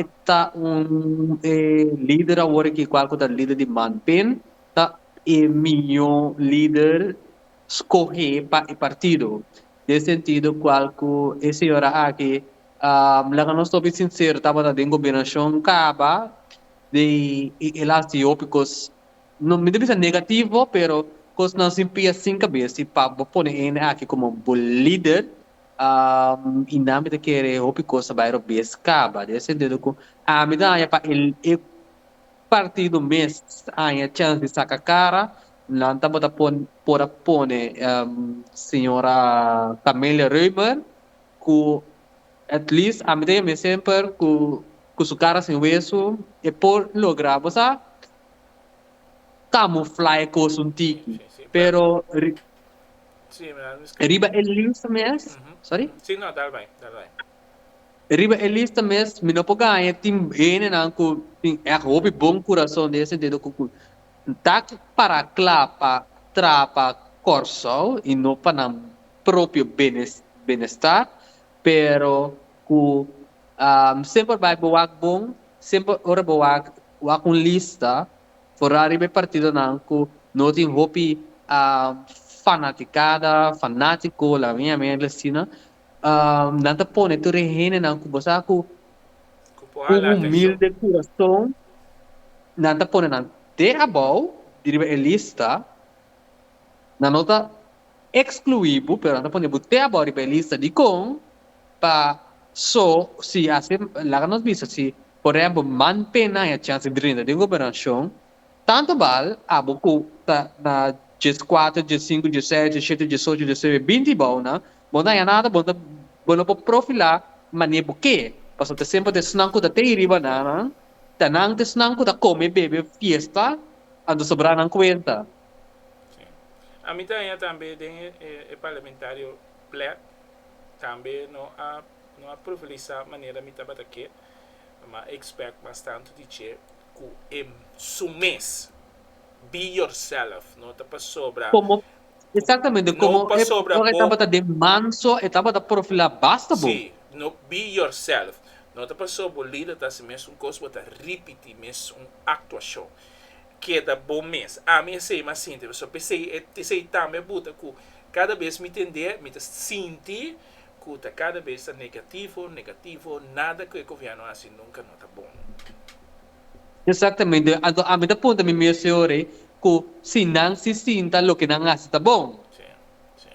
E ta un e lider awor aki kual ku ta lider di man pen ta e mihó lider skohé pa e partido den sentido kual ku e señora aki laga nos hopi sinsero tabata den gobernashon kaba di e las di hopi kos no mi ta bisa negativo pero kosnan sin pia sin kabes i pa bo pone hende aki komo bo lider. i nan mi ta kere hopi cos ta bay robes caba den e sentido cu ami ta haya pa e partido mes ta haya chance di saca cara nan tabata por a pone señora Camelia Reumer cu at least ami ta yam'e semper cu su cara sin hueso e por logra bo sa camufla e cos un tiki pero. Riba e lista mes, sorry? Riba e lista mes, mi no por gaña tin henenan cu tin èg hopi bon curason den e sentido cu cu ta para cla pa traba Kòrsou i no pa nan propio benestar, pero cu semper bai bo wak bon, semper ora bo wak un lista, Fora riba e partidonan ku no tin hopi fanatikada, fanátiko, laga mi ami a habla asina, nan ta pone tur e hendenan ku bo sa ku un humilde kurason, nan ta pone nan te abou di riba e lista, nan no ta ekskluí bo pero nan ta pone bo te abou riba e lista. Dikon? Pa so si ase laga nos bisa si Por e abo man pena e chans di drinta den gobernacion, tanto bal abo cu ta na dies cuatro, dies cinco, dies seis, dies shete, dies ocho, dies nuebe, binti y bao nan, bo nan ya nada, bo ta bo lo por profila mane bo ke, pasobra ta semper ta esnan cu ta te y riba nan, nan ta nan ta esnan cu ta come, bebe, fiesta, anto sobra nan cuenta. Si. Ami ta haña tambe den e parlamentario Platt tambe no a no a profilisa manera mi tabata ke. Ma e expect mas tanto di dje cu e su mes, be yourself, no ta pasobra. Como, exactamente, como e ora e tabata den manso, e tabata profila basta bo. Si, no be yourself, no ta pasobra bo lida ta hasi mes un cos, bo ta ripiti mes un actuacion. Keda bo mes. Ami esey mi a sinti pasobra esey tambe a buta cu cada bes mi tende, mi ta sinti. cu ta cada bes ta negativo, negativo, nada cu e gobierno haci nunca no ta bon. Exactamente, anto ami ta punta mi mes e ora cu si nan si sinta loke nan haci ta bon. Si, si.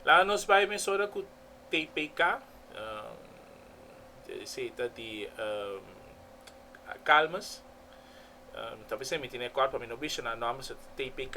Laga nos bay mesora cu TPK, esey ta di Calmus, ta bisa mi tin e acord pa mi no bishona nomber, so ta TPK.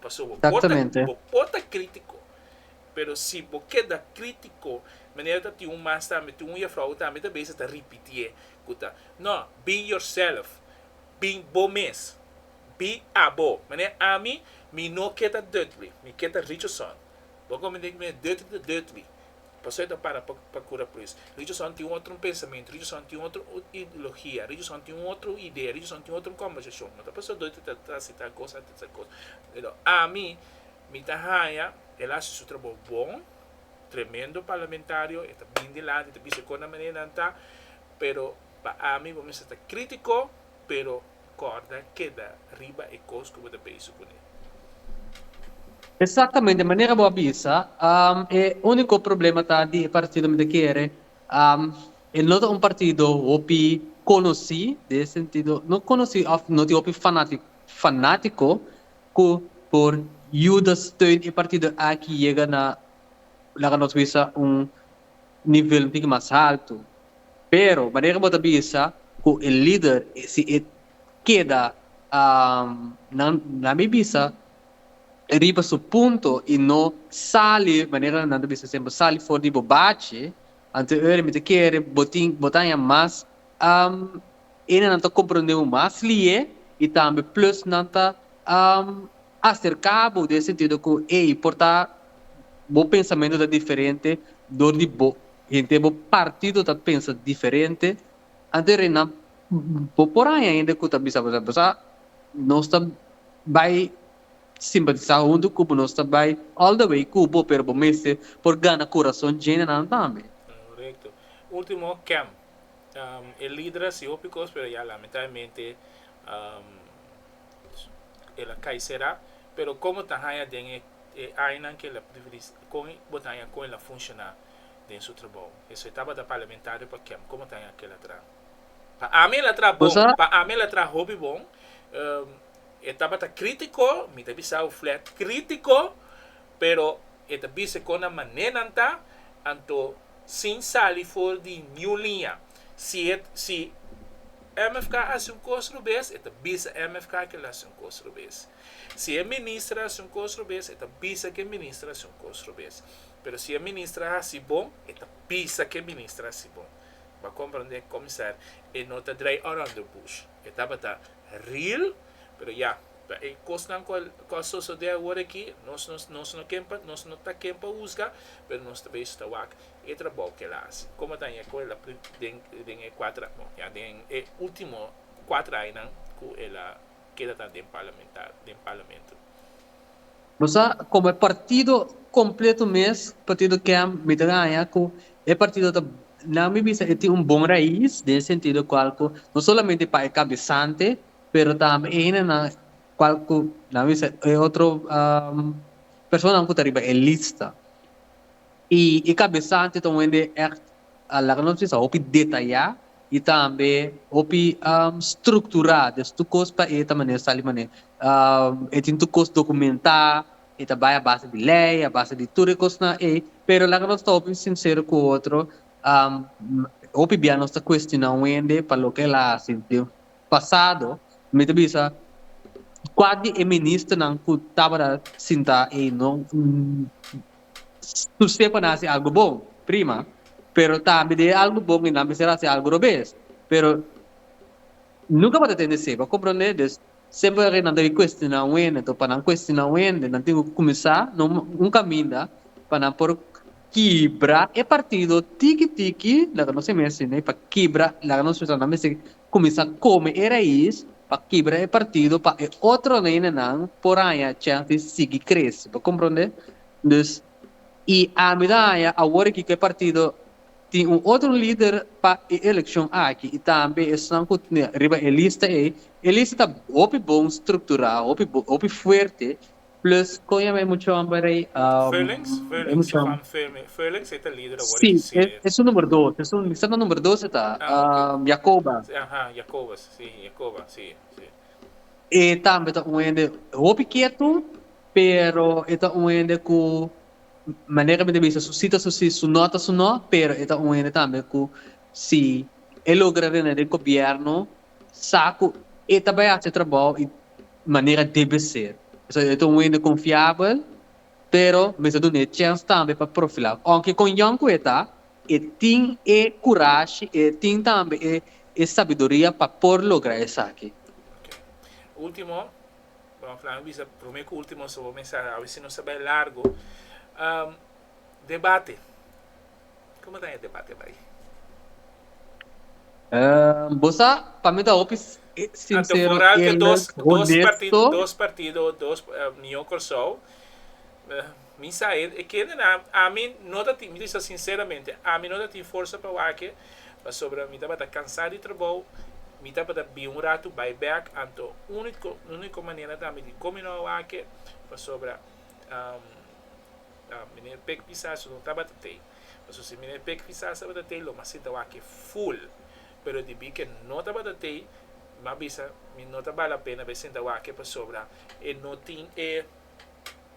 Pasobra bo por ta, bo por ta critico, pero si bo keda critico, manera ta tin un mas tambe, tin un juffrouw tambe ta beza ta ripitié cu ta, No, be yourself, bin bo mes, be abo, manera ami, mi no ke ta deutly, mi ke ta richoson, bo a comprende cu mi dirty ta deutly. Pasobra e ta para pa kura por eso. Religiosonan tin un otro pensamentu, religiosonan tin un otro ideologia, religiosonan tin un otro idea, religiosonan tin un otro kombersashon. No ta pasobra Doyter ta trahasi tal kosa, ta tal kosa. Pero ami, mi ta haña el a hasi su trabou bon, tremendo parlamentario, e ta bini dilanti, e ta bisa kon a manera nan ta, pero pa ami bo mester ta kritiko, pero. corda keda riba e cos cu bo ta beyso cune. Exactamente manera bo a bisa, e unico problema ta di e partido mi ta kere, e no ta un partido hopi conoci, den e sentido no conoci of no tin hopi fanatico fanatico cu por yuda steun e partido aki yega na laga nos bisa un nivel un tiki mas haltu, pero manera ku bo ta bisa ku e lider si e keda nan nan mi bisa riba su punto i no sali manera ku nan ta bisa semper sali for di bo bachi anto e ora mi ta kere bo tin bo ta haña mas Ene nan ta comprende bo mas lihe y tambe plus nan ta acerca bo den e sentido cu ey por ta bo pensamento ta diferente door di bo henter bo partido ta pensa diferente anto rey nan bo por haya hende cu ta bisa bo sa bo sa nos ta bay simpatiza hunto cu bo nos ta bay all the way cu bo pero bo mester por gana corazon djene nan tambe. Correcto. Ultimo, Kem. E lider a hasi hopi cos pero ya lamentablemente el a cay sera. Pero con bo ta haya den e añanan que el a con bo ta haya con el a funciona den su trabao. Esey tabata parlamentario pa kem con bo ta haya kel a traha. Pa ami el a traha bon, pa ami el a traha hopi bon. E tabata critico, mi ta bisabo flat, critico pero E ta bisa kon nan mané nan ta, anto sin sali for di niun liña. Si e si MFK a hasi un kos rubes, e ta bisa MFK ke el hasi un kos rubes. Si e minister a hasi un kos rubes, e ta bisa ke e minister a hasi un kos rubes. Pero si e minister a hasi bon, e ta bisa ke e minister a hasi bon. Bo a komprondé, Kòmisar, e no ta draai orònd de bush. E tabata ril, pero ya. Ta e kosnan ku ku a sosodé awor aki, nos no nos no ken pa nos no ta ken pa husga, pero nos ta beishi ta wak e trabou ku el a hasi. Komo ta ña ku el a pri den den e kuater bon ña den e ultimo kuater añanan ku el a keda ta den parlamenta den parlamento. Bo sa komo e partido kompleto mes, partido kèm, mi ta haña ku e partido ta nan mi bisa e tin un bon rais den e sentido kual ku no solamente pa e kabesante Pero tambe e hendenan cual cu nan bisa e otro personanan cu ta riba e lista. Y e cabesante ta un hende echt a laga nos bisa hopi detaya y tambe hopi structura. Des tur cos pa e ta manera sali manera e tin tur cos documenta, e ta bay a base di ley, a base di tur e cosnan ey. Pero laga nos ta hopi sincero cu otro, hopi bia nos ta cuestiona un hende pa loke el a haci den Pasado mi ta bisa kua di e ministernan ku tabata sintá ei no su se por nan hasi algu bon, prima, pero tambe di e algu bon ei nan mester hasi algu robes, pero nunka bo ta tende sebe, a komprondé? Des semper aki nan ta bin kuestioná un hende, enton pa nan kuestioná un hende nan tin ku kuminsá no un kaminda pa nan por kibra e partido tiki tiki laga nos e mes asina i pa kibra laga nos pensá nan mester Kuminsá kome e rais pa kibra e partido pa e otro nenenan por haña chèns di sigui krese. Bo komprondé? Dus, i ami ta haña awor aki ku e partido tin un otro lider pa e elekshon aki i tambe esnan ku riba e lista ei. E lista ta hopi bon strukturá, hopi bon, hopi fuerte. Plus con e mucho homber ey. Villings, Villings, e pan firme. Villings ey ta lider awor den si. Si, e su number dos. E su, mi sa ta number dos e ta. Ah, ok. Jacoba. Aha, Jacoba, si, Jacoba, si, si. E tambe ta un hende hopi ketu, pero e ta un hende cu, manera mi ta bisa, su si ta su si, su no ta su no, pero e ta un hende tambe cu si e logra rena den gobierno, sa ku e ta bai hasi e trabou i manera debe ser. Esei e ta un wende konfiabel, pero mi sa duna e chèns tambe pa profilar. Ounke kon yòn ku e ta, e tin e kurashi, e tin tambe e e sabiduria pa por logra esaki. Ok. Ultimo, bo a fla mi bisa promé ku ultimo so bo mensahé, a veces nos ta bai largo. Debate. Como ta e debate bay? Ehm, bo sa, pa mi ta hopi s- eh, Anto sincero, vooral te eerlijk, dos, dos partido, honesto. dos partido, dos eh, Mio Corsou. Eh, mi sa e, e kende na, ami no ta tin, mi bisa sinceramente, ami no ta tin forsa pa wake, pasobra mi tabata cansá di trabou, mi tabata bin un ratu bai bèk, anto único, único manera ta ami di kominó wake, pasobra, ehm, Ta Meneer Pik Visas su no tabata tei. Pasobra si Meneer Pik Visas tabata tei lo mas sita wak e full. Pero debí ku e no tabata tei mi a bisa mi no ta bal la pena pa e sinta wak pasobra e no tin e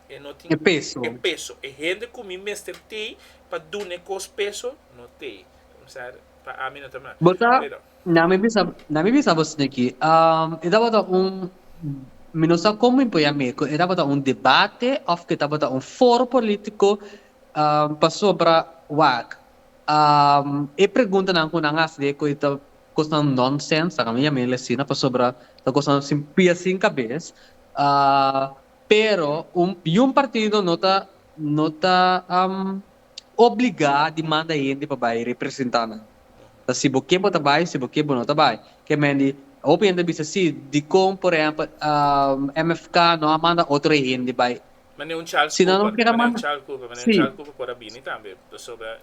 e no tin e peso. E peso. E hende ku mi mester tei pa duna e kos peso no tei. Kòmensar pa ami no ta mas. Bo ta. Pero. Na mi bisa na mi bisa boso niki um e tabata un mi no sa como mi por ya mi cu e tabata un debate of cu e tabata un foro politico um pasobra wak um e preguntanan cu nan haci de cu e ta cosnan nonsense a mi yamel asina pasobra ta cosnan sin pia sin cabez um pero un un partido no ta no ta um. obligá di manda hende pa bai representá nan. Ta si bo ke bo ta bai, si bo ke bo no ta bai. Ke mendi, hopi hende a bisa, sí, dikon por ehèmpel MFK no a manda otro hende bai? Ma niun Charles Cooper, ma niun Charles Cooper, ma niun Charles Cooper por a bini tambe, pasobra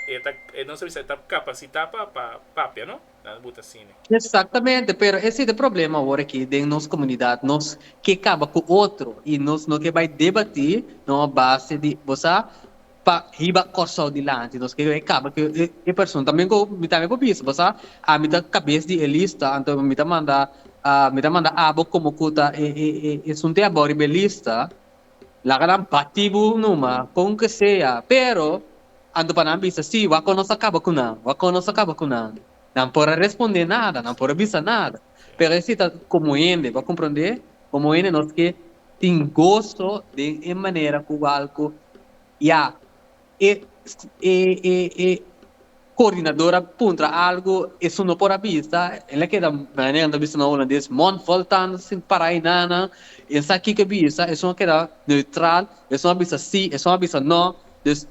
e ta, nos a bisa e ta kapasitá pa papia, no? Nan bu ta sine. Exactamente, pero ese ta problema awor aki den nos comunidad, nos ke caba cu otro y nos no ke bay debati na un base di bo sa pa hiba Corsou dilanti, nos ke bay caba cu e person tambe cu mi tambe por bisa bo sa ami ta cabes di e lista anto mi ta manda mi ta manda abo como cu ta e sunte abo riba e lista Laga nan bati bo numa kon ke sea, pero anto pa nan bisa si, wak kon nos a kaba ku nan, wak kon nos a kaba ku nan. Nan por a responde nada, nan por a bisa nada, pero esei ta komo hende, bo a komprondé? Komo hende nos ke tin goso den e manera ku algu ya. e e e e coordinador a puntra algo eso no por a bisa el a keda mañana nan ta bisa na holandés mond vol tand sin para ei nan nan e sa kiko e bisa esun a keda neutral esun a bisa si esun a bisa no dus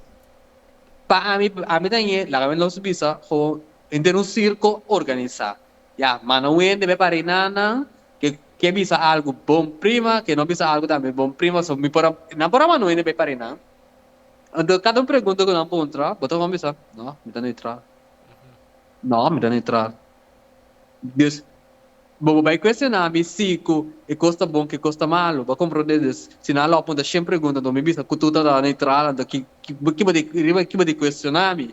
pa ami ami ta ñe laga mi los bisa gewoon henter un circo organisa ya manda un hende bai para ei nan nan ke ke bisa algo bon prima ke no bisa algo tambe bon prima so mi por a nan por a manda un hende bai para ei nan. Enton kada un pregunta ku nan puntra, bo ta kon bisa, no, mi ta neutral. No, mi ta neutral. Dus, bo bo bai kuestioná mi si ku e kos ta bon, ku e kos ta malu. Bo a komprondé dus, si nan a lo punta shen pregunta, enton mi bisa ku tur ta neutral, enton ki ki bo di riba ki bo di kuestioná mi?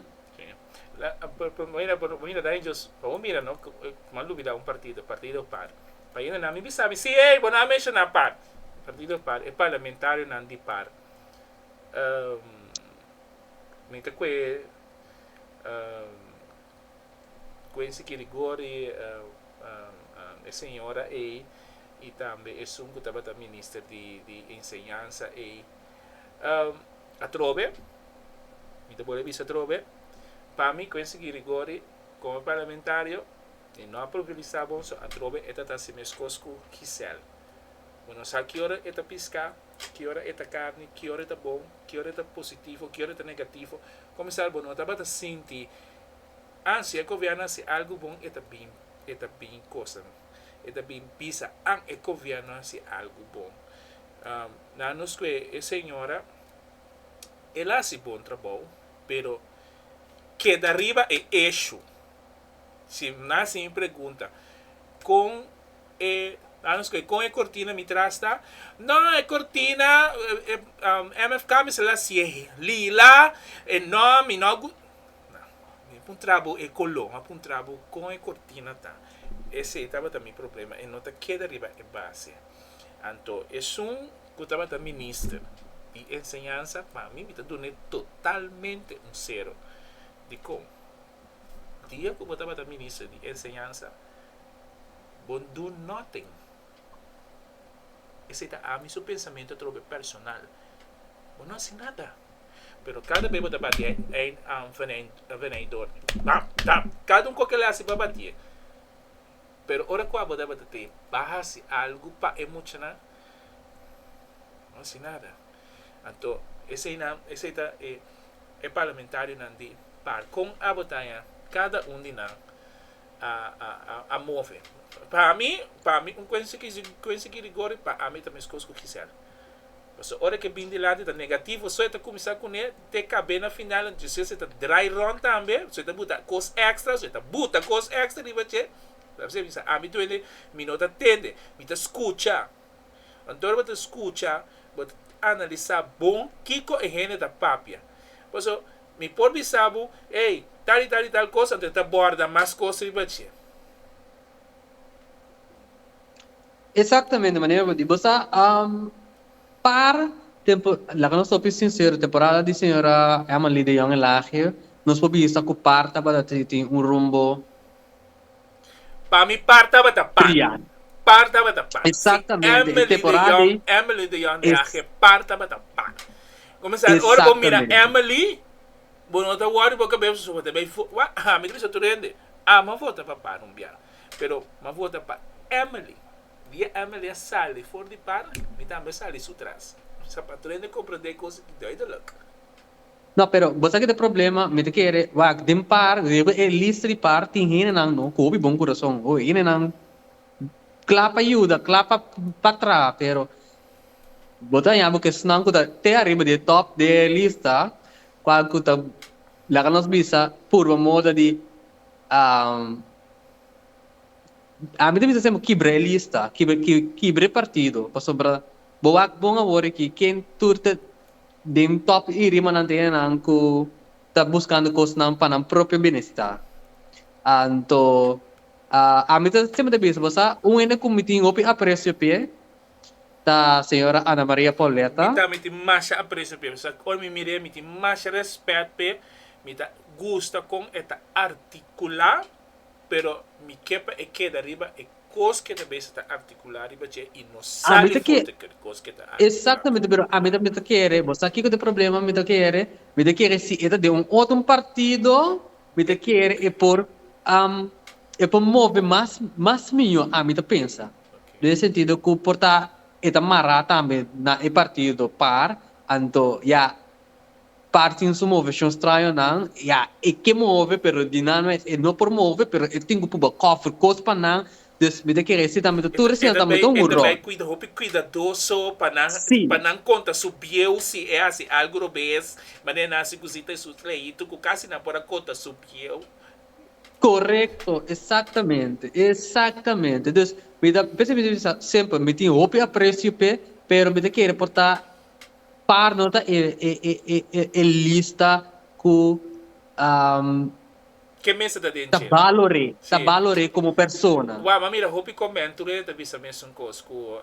Bo hinda dai djus, pa bo mira no, kuma Lubi dau un partido, partido par. Pa hinda nan mi bisa mi si, ey, bo no a menshoná par. Partido par, e parlamentarionan di par. mi ta kue kuen siki rigor di e señora ei i tambe esun ku tabata minister di enseñansa ei. Atrobe, mi ta bolbe bisa atrobe, pa mi kuen siki rigor di komo parlamentario e no a pulverisá bon, so atrobe e ta ta si meskos ku Gisèle. Bo no sa kiora e ta piská. Ki ora e ta carni, ki ora e ta bon, ki ora e ta positivo, ki ora e ta negativo. Comensal bo no tabata sinti an si e Gobierno a haci algo bon e ta bin, e ta bin cosanan, e ta bin bisa an e Gobierno a haci algo bon. Na nos cu e señora el a haci bon trabao pero keda riba e issue. Si nan sin pregunta, Kon e, laat nos koe, kon e kortina mi tras ta? No, e kortina, MFK mester la siye lila, e no, mi no gust. Nah, mi a puntra bo e koló, mi a puntra bo kon e kortina ta. Esei tabata mi problema, e no ta keda riba e base. Anto esun ku tabata minister di enseñansa, pa mi mi ta dun'e totalmente un sero. Dikon? Dia ku bo tabata minister di enseñansa, bo no dun noten. Esei ta ami su pensamentu atrobe personal. Bo no hasi nada. Pero kada bes bo ta bati ein anvenedor, bam, dam, kada un koke el a hasi bo a bati'e. Pero ora ku abo tabata te, bo a hasi algu pa e muchanan, bo no hasi nada. Anto esei nan esei ta e e parlamentarionan di par kon a botaña kada un di nan a a a a move pa mi pa mi un kuensia ki kuensia ki rigori pa ami ta meskos ku Gisèl paso ora ke bin dilanti ta negativo so e ta kuminsá kuné te kab'é na final anto si esei ta drai ròn tambe so e ta buta kos èkstra so e ta buta kos èkstra riba dje ami duende mi no ta tende mi ta skucha. Anto bo ta skucha, bo ta analisá bon kiko e hende ta papia. Paso, mi por bisa bo, Ey, tal i tal i tal kos, anto e ta bòrda mas kos riba dje. Exactamente manera bo di. Bo sa par tempo, laga nos hopi sincero, temporada di señora Emily de Jong e Laagje, nos por bisa ku par tabata tin un rumbo. Pa mi par tabata pan. Criado. Par tabata pan. Exactamente. Si Emily de Jong, Emily de Jong de ahe par tabata pan. Comenzar ora bo mira Emily bo no ta worry bo cabes su bo ta bay food wak ha mi ta bisa tur hende a m'a vota pa pan un biaha pero m'a vota pa Emily. Dia Emily a sali for di pan mi tambe a sali su tras sa pa tur hende comprende e cosa ki duidelijk. No, pero bo sa ki ta e problema, mi ta kere wak den par, riba e lista di par tin hendenan no, ku hopi bon kurason. Ho, e hendenan kla pa yuda, kla pa pa traha, pero bo ta haña bo ku esnan ku ta te ariba di e tòp di e lista, kual ku ta laga nos bisa purba moda di, ami ta bisa semper kibra e lista, kibra, kibra e partido, pasobra Bo wak bon awor aki ken tur ta den top i rimanan ta enan ku ta buskando kosnan pa nan propio binesita. Anto ami ta siempre ta bisa bo sa un hende ku mi tin hopi aprecio p'e ta señora Ana Maria Pauleta. Mi tambe tin masha aprecio p'e pasobra ora mi mir'e mi tin masha rèspèt p'e, mi ta gusta kon e ta artikulá pero mi ke pa e keda riba e kos ke ta mester ta artikulá riba dje i no sa di forte ke kos ke ta artikulá. Exactamente pero ami ta mi ta kere bo sa kiko ta e problema mi ta kere mi ta kere si e ta den un otro un partido mi ta kere e por e por move mas mas miño ami ta pensa den e sentido ku por ta e ta mará tambe na e partido par anto ya Partin su moveshon straño nan, ya, e ke move, pero di nan mes e no por move, pero e tin ku puba kòfer kos pa nan, dus mi ta kere si tambe ta tur asina tambe ta un huró. E ta bai, e ta bai kuida, hopi kuidadoso pa nan, Sí. pa nan konta su bieu si e hasi algu robes, manera nan hasi kusi ta e su trajitu ku kasi nan por a konta su bieu. Korekto, esaktamente, esaktamente. Dus mi ta pensa mi di mi sa, Semper, mi tin hopi apresio p'e, pero mi ta kere portá Par no ta e e lista ku Ke mester ta den dje? ta balor'é komo persona. Wao, m'a mira hopi komento riba e ta bisa mesun kos ku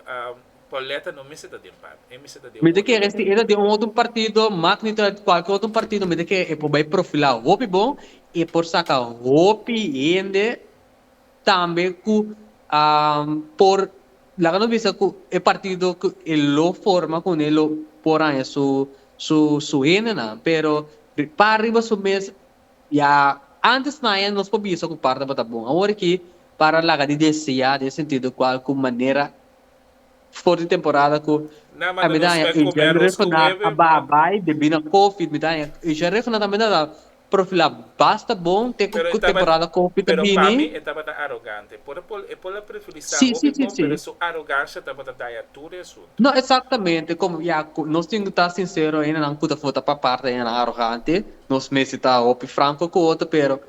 Pauletta no mester ta den pap, e mester ta den otro. Mi ta kere si e ta den otro partido, mak mi ta kualke otro partido, mi ta kere e por bai profilá hopi bon, e por saka hopi hende Tambe ku por laga nos bisa ku e partido ku e lo forma kuné e lo por haña su hendenan pero pa riba su mes ya antes naye nos por bisa ku par tabata bon. Awor aki para laga di deseá den sentido kual ku manera for di temporada ku e midaña Asia Refiná a baha bai debí na Covid. Midaña Asia Refiná tambe ta na profilá basta bon te ku temporada Covid ta bini. Sí, sí, sí, sí. No, exactamente, komo ya ku nos tin ku ta sinsero ainda nan ku ta for ta papar ta ainda nan arogante. Nos mester ta hopi franko ku otro pero.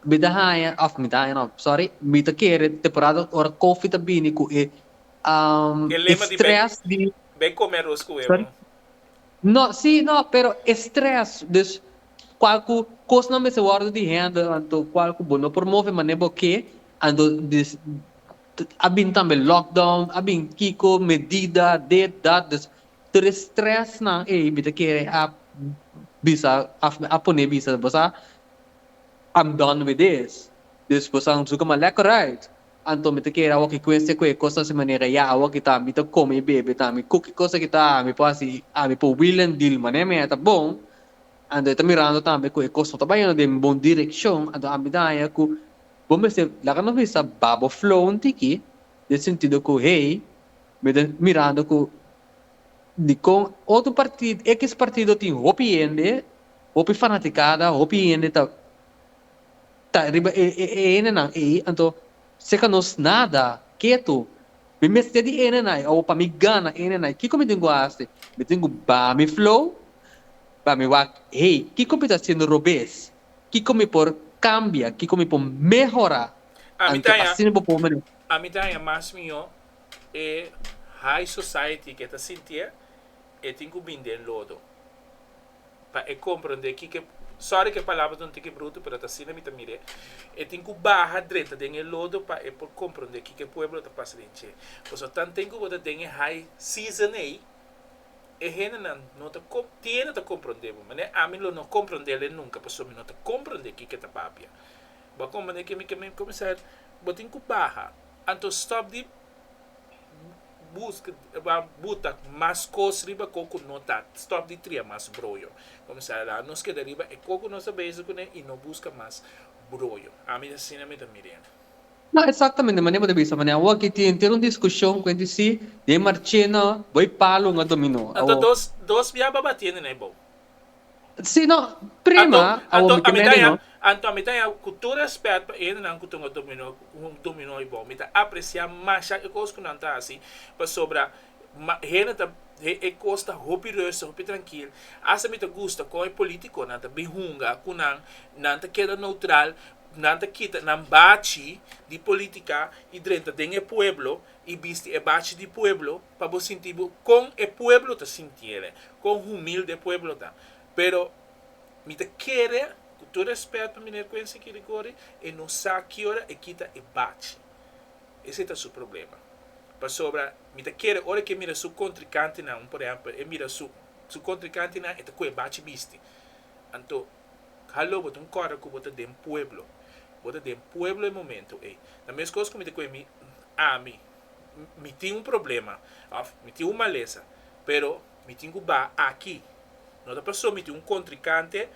Mi ta haña, of mi ta haña no, sorry, mi ta kere temporada ora Koffie ta bini ku e stress di. Be come aros ku huevo. No, si, no, pero e stress, dus kual ku kosnan mester wòrdu di hende, anto kual ku bo no por move manera bo ke, anto dus a bini tambe lockdown, a bini kiko medida, dit, dat, dus tur e stressnan ei mi ta kere a bisa, of mi a pone bisa, bo sa, I'm done with this. Dus pues a Nzuka ma lek orait. Anto mi ta kere awo ki kuense ku e kos ta si manera ya awo ki ta mi ta kome i bebe ta mi kuki kosa ki ta ami por hasi ami por wil en dil mane mi a ta bon. Anto e ta mirando tambe ku e kos no ta bayando den bon direkshon anto ami ta haña ku bo mester laga nos bisa ba bo flow un tiki den sentido ku hey mi ta mirando ku dikon otro partido ekis partido tin hopi hende Hopi fanaticada, hopi hende ta ta riba e e hendenan ei, anto seca nos nada, ketu. Mi mester di hendenai, o pa mi gana hendenai, kico mi tin cu haci? Mi tin cu ba mi flow, pa mi wak hey, kico mi ta haciendo robes? Kico mi por cambia? Kico mi por mehora? A mi ta Anto haña, asina bo por mane. a mi ta haña mas miho e high society ke ta sintié e tin cu bin den lodo. pa e komprondé kiko e. Sòri ku e palabra ta un tiki brutu, pero ta asina mi ta mir'é. E tin ku baha drenta den e lodo pa e por komprondé kiko e pueblo ta pasa den dje. Pasobra tanten ku bo ta den e high season ei, e hendenan no ta kom, tin hende ta komprondé bo, mane ami lo no komprondéle nunka pasobra mi no ta komprondé kiko e ta papia. Bo a komprondé ke mi ke mi kuminsá, bo tin ku baha, anto stòp di buta mas kos riba kò ku no ta. Stòp di tria mas broyo. Kuminsá la nos keda riba e kò ku nos ta bese kuné i no buska mas broyo. Ami ta asina mi ta mira ende. No, eksaktamente manera bo ta bisa. Manera awor aki tin enter un diskushon ku e di si di e marchena bo e palu un a dominó. Anto dos dos biaba batiendo na e bou. Si no, prima, awo mi ta medi no. Anto mi ta ya ku tur rèspèt pa e hendenan ku tuma dominó ku dominó i bon. Mi ta apresiá masha e kos ku nan ta hasi, pasobra hende ta e kos ta hopi rustig, hopi trankil. Asta mi ta gusta kon e polítikonan ta bin hunga ku nan, nan ta keda noutral, nan ta kita nan bachi di polítika i drenta den e pueblo. i bisti e bachi di pueblo pa bo sinti bo kon e pueblo ta sintiele, kon humilde e pueblo ta. Pero mi ta kere, ku tur respèt pa Miner Quency Kirigori, e no sa ki ora e kita e bachi. Esei ta su problema. Pasobra mi ta kere ora ku e mira su kontrikantenan, un por ehèmpel, e mira su kontrikantenan e ta ko'e bachi bisti. Anto Hallo, bo ta un kòrda ku bo ta den pueblo. Bo ta den pueblo e momento ei. Ta meskos ku mi ta kue mi, ami, mi tin un problema, òf mi tin un malesa, pero mi tin ku baha aki. No ta pasó mi tin un kontrikante,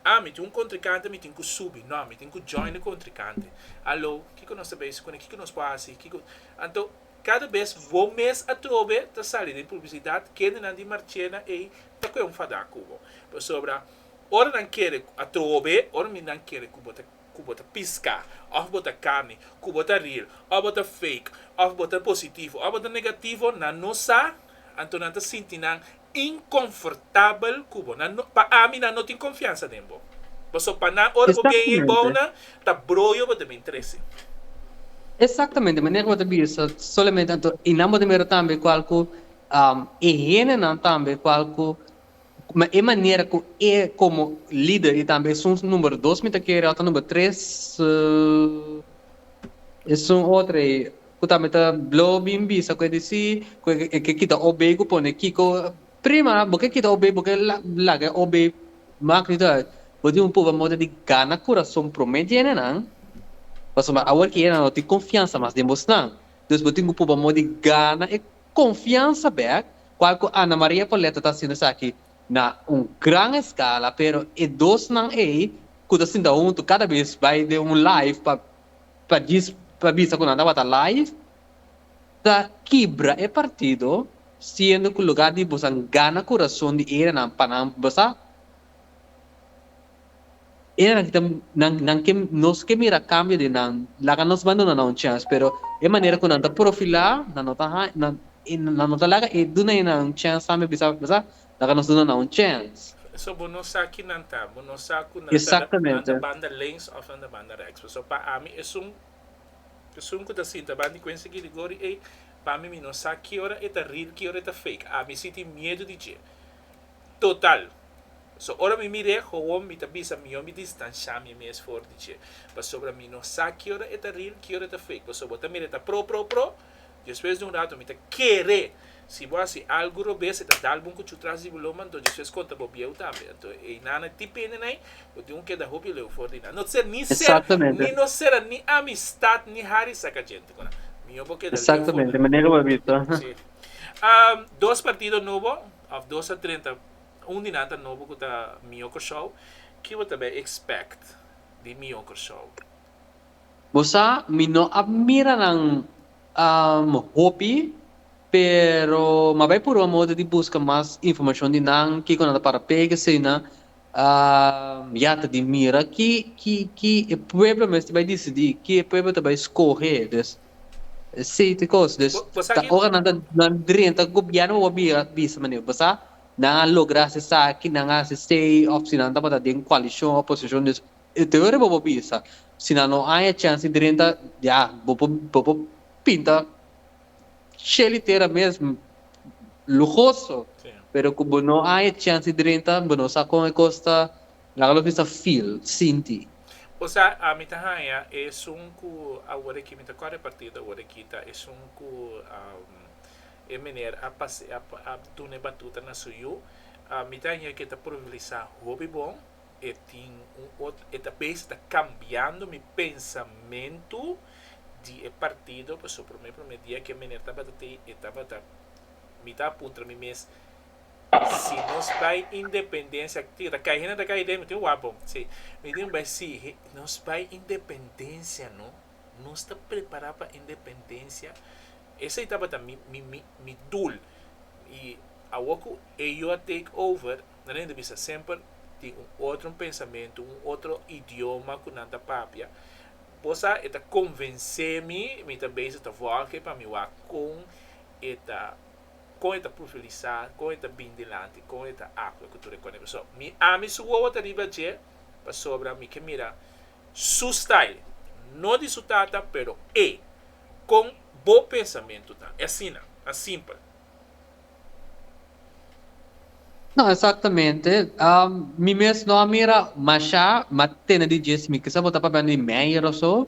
ah mi tin un kontrikante mi tin ku subi. Nò, mi tin ku join e kontrikante. Hallo, kiko nos ta bai si kuné? Kiko nos por hasi? Kiko. Anto, kada bes bo mes atrobe ta sali den publisidat, kendenan di Marchena ei ta kue un fadá ku bo. Pasobra. Ora nan kere a trobe, ora mi nan kere ku bo ta ku bo ta piská òf bo ta kami, ku bo ta rir, òf bo ta fake, òf bo ta positivo, òf bo ta negativo, nan no sa, anto nan ta sinti nan inkonfortabel ku bo. Nan no, pa ami nan no tin konfiansa den bo. Pasobra pa nan ora bo bien ei bou Exactamente. nan ta broyo bo ta bin trese. Exactamente, manera ku bo ta bisa solamente anto i nan bo ta mira tambe kual ku e hendenan tambe kual ku Ma e manera ku e komo lider i tambe esun numero dos mi ta kere òf ta numero tres esun otro ei ku tambe ta blo bin bisa ku e di si ku e ke kita OB ku pone Kiko prima bo ke kita OB bo ke laga e OB mak di tur bo tin un puba moda di gana kurason promé di ene nan pasobra bo awor ke nan no tin konfiansa mas den bosnan dus bo tin ku puba moda di gana e konfiansa bèk Cual cu Ana Maria Poletto ta haciendo esaki na un gran escala, pero e dos nan ey cu ta sinta hunto cada vez bay den un live pa pa djis pa bisa cu nan ta wata live ta kibra e partido siendo cu lugar di bosan gana curazon di erenan pa nan basa Eran ki ta nan nan ke nos ke mira kambio di nan laga nos bandona nan un chèns pero e manera ku nan ta profilá nan no ta haña nan nan no ta laga e duna e nan un chèns tambe bisa bisa laga nos duna nan un chèns. So bo no sa ki nan ta bo no sa ku nan ta nan ta banda links òf nan ta banda reks pues so pa ami esun esun ku ta sinta banda di Quincy Gil di Gori ey pa mi mi no sa ki ora e ta real ki ora e ta fake ami si tin miedu di dje total. So ora mi mir'é gowon mi ta bisa mihó mi distanshá mi mes for di dje, pasobra mi no sa ki ora e ta ril, ki ora e ta fake, pasobra bo ta mir'é ta pro, pro, pro, despues di un rato mi ta kere, si bo hasi algu robes e ta dal bo un kuchu tras di bo lomba, anto despues konta bo bieu tambe, anto ei nan a dipende na ei, bo tin ku keda hopi leu for di nan, no ser ni ser, ni no sera ni amistat ni hari saka djente ku nan, mihó bo keda leu for di nan. Si, dos partido nobo, of dos a trenta. Un di nan ta nobo ku ta Mio Kòrsou. Ki bo ta bai ekspèkt di Mio Kòrsou? Bo sa mi no a mira nan hopi, pero mi a bai puru a moda di buska mas informashon di nan, kiko nan ta para pega asina. Ya ta di mira ki e pueblo mester bai disidí, ki e pueblo ta bai skohe. Sí, te cos. Dus, Bo- bo sa ta, ki- ora nan ta nan drenta gobierno bo bira bisa meneer, bo sa nan a logra se saki, nan a se sei of si nan tabata den coalition o oposition, dus e te ora bo bo bisa. Si nan no aña chance drenta, ya, bo por bo por pinta Shelly tera mes m- lujoso, Sí. pero cu bo no aña chance drenta, bo no sa con e cos ta Laga loke mi ta feel, sinti. O sa, mi ta haña esun ku awor aki mi ta kòrè partido awor aki ta esun ku e miner a pasea, a duna e batuta na su yu. Mi ta haña ku e ta probabilisa hopi bon. E tin un ot, e ta bes ta kambiando mi pensamentu di e partido. Pasobra promé promé dia ku e miner tabata tei, e tabata, mi ta puntra mi mes. Si nos bai independencia ti ta cai hende ta cai idea mi tin wapo si mi tin bai si nos bai independencia no nos ta prepara pa independencia esey tabata mi mi mi mi doel y awor cu eyo a take over nan a hende bisa semper tin un otro pensamento un otro idioma cu nan ta papia bo sa e ta convence mi mi ta bezig ta work pa mi wak con e ta kon e ta pulverisá, kon e ta bin dilanti, kon e ta akua ku tur e kòne. Pasobra mi ami su wowo ta riba dje, pasobra mi ke mira su style, no di su tata, pero e kon bo pensamentu ta. E asina, mas simpel. No, exactamente. Mi mes no a mira mashá, ma tene di dje si mi kisa bo ta papia di Meijer o so.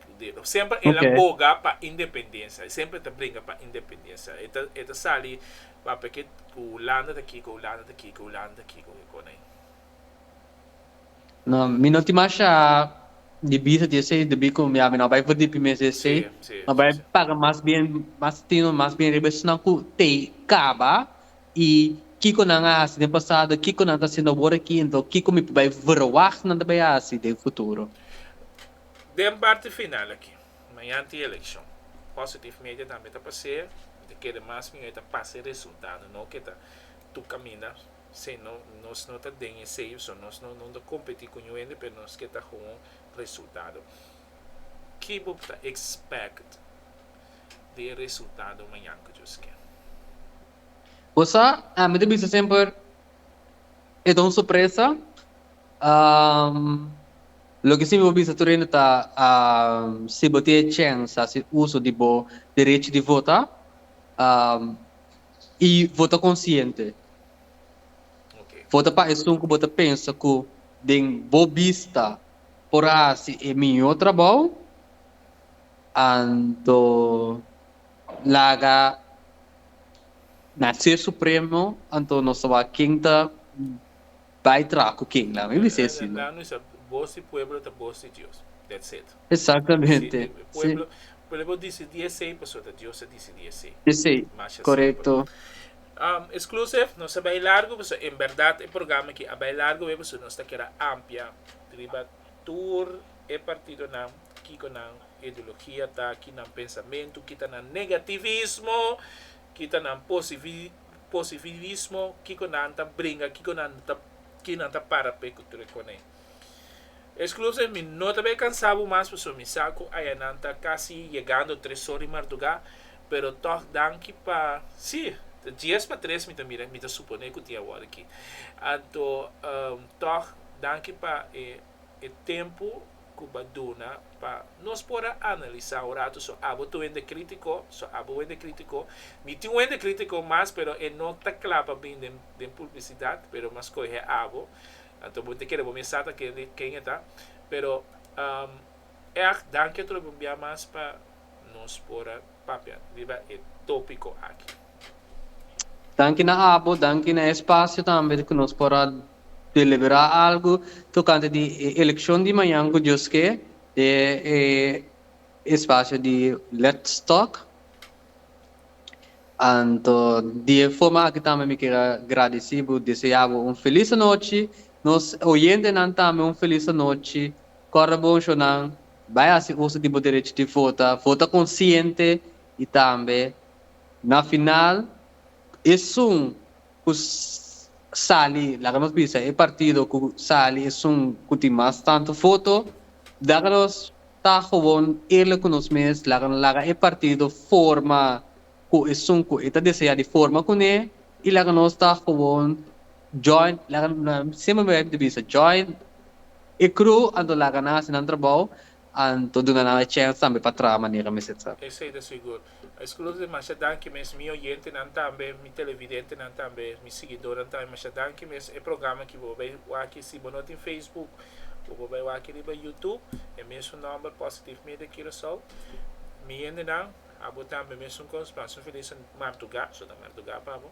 Dedo. Semper el a boga pa independensia. E semper ta bringa pa independensia. E ta, e ta sali, papia kit ku Hulanda ta kiko, Hulanda ta kiko, Hulanda ta kiko, e kos ei. No, mi no tin masha di bisa di esei debí ku ya mi no a bai vrdí primé si esei. Sí, sí, Mi a bai sí, sí. paga mas bien, mas tino, mas bien riba esnan ku te kaba i kiko nan a hasi den pasado, kiko nan ta hasiendo awor aki, enton kiko mi por bai verwagt nan ta bai hasi den futuro. Den parti final aki, mañanti e elekshon. Positive media tambe ta pas'é, mi ta kere mas mió e ta pasa e resultado, no ku e ta tur kaminda, si no nos no ta den e seyu, so nos no no ta kompetí ku niun hende, pero nos ke ta houn resultado. Ki bo ta ekspèkt di e resultado mañan ku Dios ke? Bo sa, mi ta bisa semper e ta un sorpresa. Loke si mi bo bisa tur hende ta si bo tin e chèns hasi uso di bo derechi di vota i vota konsiente. Vota pa esun ku bo ta pensa ku den bo bista por a hasi e mihó trabou, anto laga na Ser Supremo anto nos ta wak ken ta. Bai traha cu ken la? Mi bisa e así no. Bos y pueblo ta bos di Dios. That's it. Exactamente. Si. Pueblo dicidi esey pasobra Dios a dicidi esey. Esey. Corecto. Exclusive, nos ta bay largo pasobra en berdad e programa aki a bay largo wey pasobra nos ta keda ampia riba tur e partidonan, kico nan ideologia ta, ki nan pensamentu, ki ta nan negativismo, ki ta nan posivi. Posibilismo kiko nan ta bringa kiko nan ta ki nan ta para p'e ku tur e kone. Eskluze mi no ta bai kansa bo mas pasobra mi sa ku aya nan ta kasi yegando tres or di mardugá pero tòg danki pa si ta dies pa tres mi ta mira mi ta suponé ku tin awor aki anto tòg danki pa e tempu ku bo a duna pa nos por a analisá un ratu so abo ta wende krítiko, so abo wende krítiko. Mi tin wende krítiko mas pero e no ta kla pa bin den den publisidat pero mi a skohe abo. Anto bo ta kere bo mes sa ta ken e ta pero eak danki a trompea mas pa. Nos por a papia riba e tópiko aki. Danki na abo, danki na e spasio tambe ku nos por a deliberá algu tokante di e elekshon di mañan ku Dios ke den e spasio di Let's Talk. Anto di e forma aki tambe mi ker a gradisí bo, deseá bo un felis anochi, nos oyentenan tambe un felis anochi. Kòrda bo Shonnan, bai hasi uso di bo derechi di vota, vota konsiente i tambe na final esun ku sali, laga nos bisa e partido ku sali esun ku tin mas tantu voto, laga nos ta gewoon eerlik ku nos mes, laga nos laga e partido forma ku esun ku e ta deseá di forma kuné i laga nos ta gewoon. Join, laga na sempri mi bai di bisa join e crew anto laga nan hasi nan trabou anto duna nan e chance tambe pa traha manera mester tra. Esei ta sigur. Escludo demasha danki mes mi oyentenan tambe, mi televidentenan tambe, mi siguidornan tambe masha danki mes. E programa aki bo bai waki si bo no tin Facebook o bo bai waki riba YouTube e mesun nomber Positive Media Curaçao. Mi yendenan abo tambe mesun cos, paso feliz martuga, so ta martuga pa bo.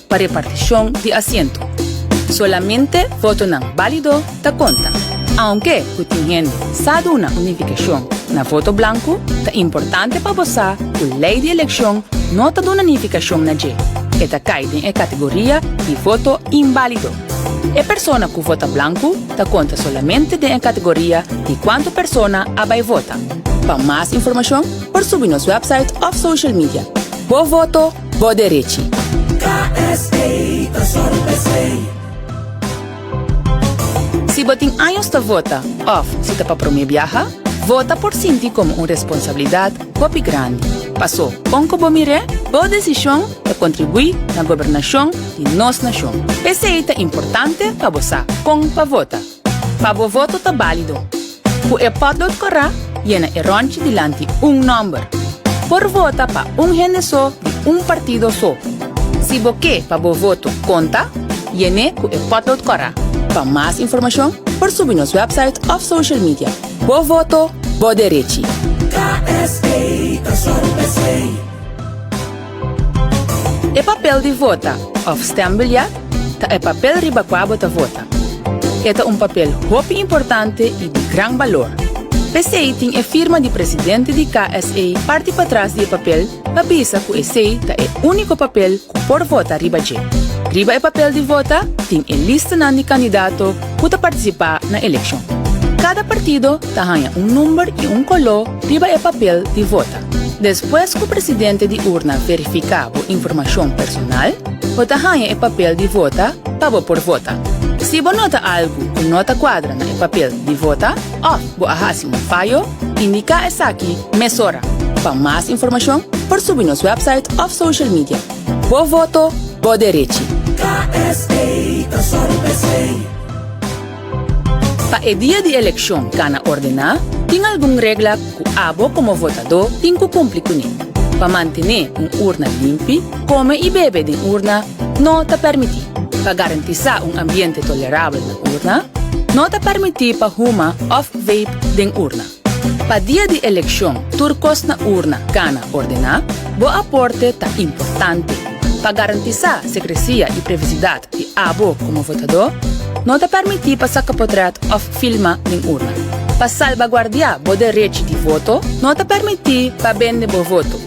Pa repartishon di asiento, solamente votonan bálido ta konta. Aunke ku tin hende sa duna un nifikashon na voto blanku, ta importante pa bo sa ku lei di elekshon no ta duna nifikashon na dje. E ta kai den e kategoria di voto inbálido. E persona ku vota blanku ta konta solamente den e kategoria di kuantu persona a bai vota. Pa mas informashon por subi nos wèpsait òf social media. Bo voto Bo derechi. KSA ta sòru p'esei. Si bo tin años ta vota òf si ta pa promé biaha, vota por sinti komo un responsablidat hopi grandi. Pasó, kon ku bo mir'é, bo desishon ta kontribuí na gobernashon di nos nashon. P'esei ta importante pa bo sa kon pa vota. Pa bo voto ta balido. Cu e potlood cora, yena e ronchi dilanti un nomber. Por vota pa un hende so di un partido so. Si bo ke pa bo voto conta, yené cu e potlood cora. Pa mas informacion por subi nos website of social media. Bo voto, bo derechi. KSA ta sorpresa ei. E papel di vota òf stembiljet ta e papel riba kua bo ta vota. E ta un papel hopi importante i di gran balor. P'esei tin e firma di presidente di KSA parti patras di e papel pa bisa ku esei ta e úniko papel ku por vota riba dje. Riba e papel di vota tin e listanan di kandidato ku ta partisipá na elekshon. Kada partido ta haña un number i un koló riba e papel di vota. Despues ku presidente di urna verifiká bo informashon personal, bo ta haña e papel di vota pa bo por vota. Si bo nota algu ku no ta kuadra na e papel di vota òf bo a hasi un fayo, indiká esaki mesora. Pa mas informashon por subi nos wèpsait òf social media. Bo voto, bo derechi! KSA ta sòru bes lei. Pa e dia di elekshon kana ordená, tin algun regla ku abo komo votadó tin ku kumpli kuné. Pa mantené un urna limpi, kome i bebe den urna no ta pèrmití. Pa garantisá un ambiente tolerabel na urna, no ta pèrmití pa huma òf vape den urna. Pa dia di elekshon tur kos na urna kana ordená. Bo aporte ta importante. Pa garantisá sekresia i privasidat di abo komo votadó, no ta pèrmití pa saka potrèt òf filma den urna. Pa salbaguardiá bo derech di voto, no ta pèrmití pa bende bo voto.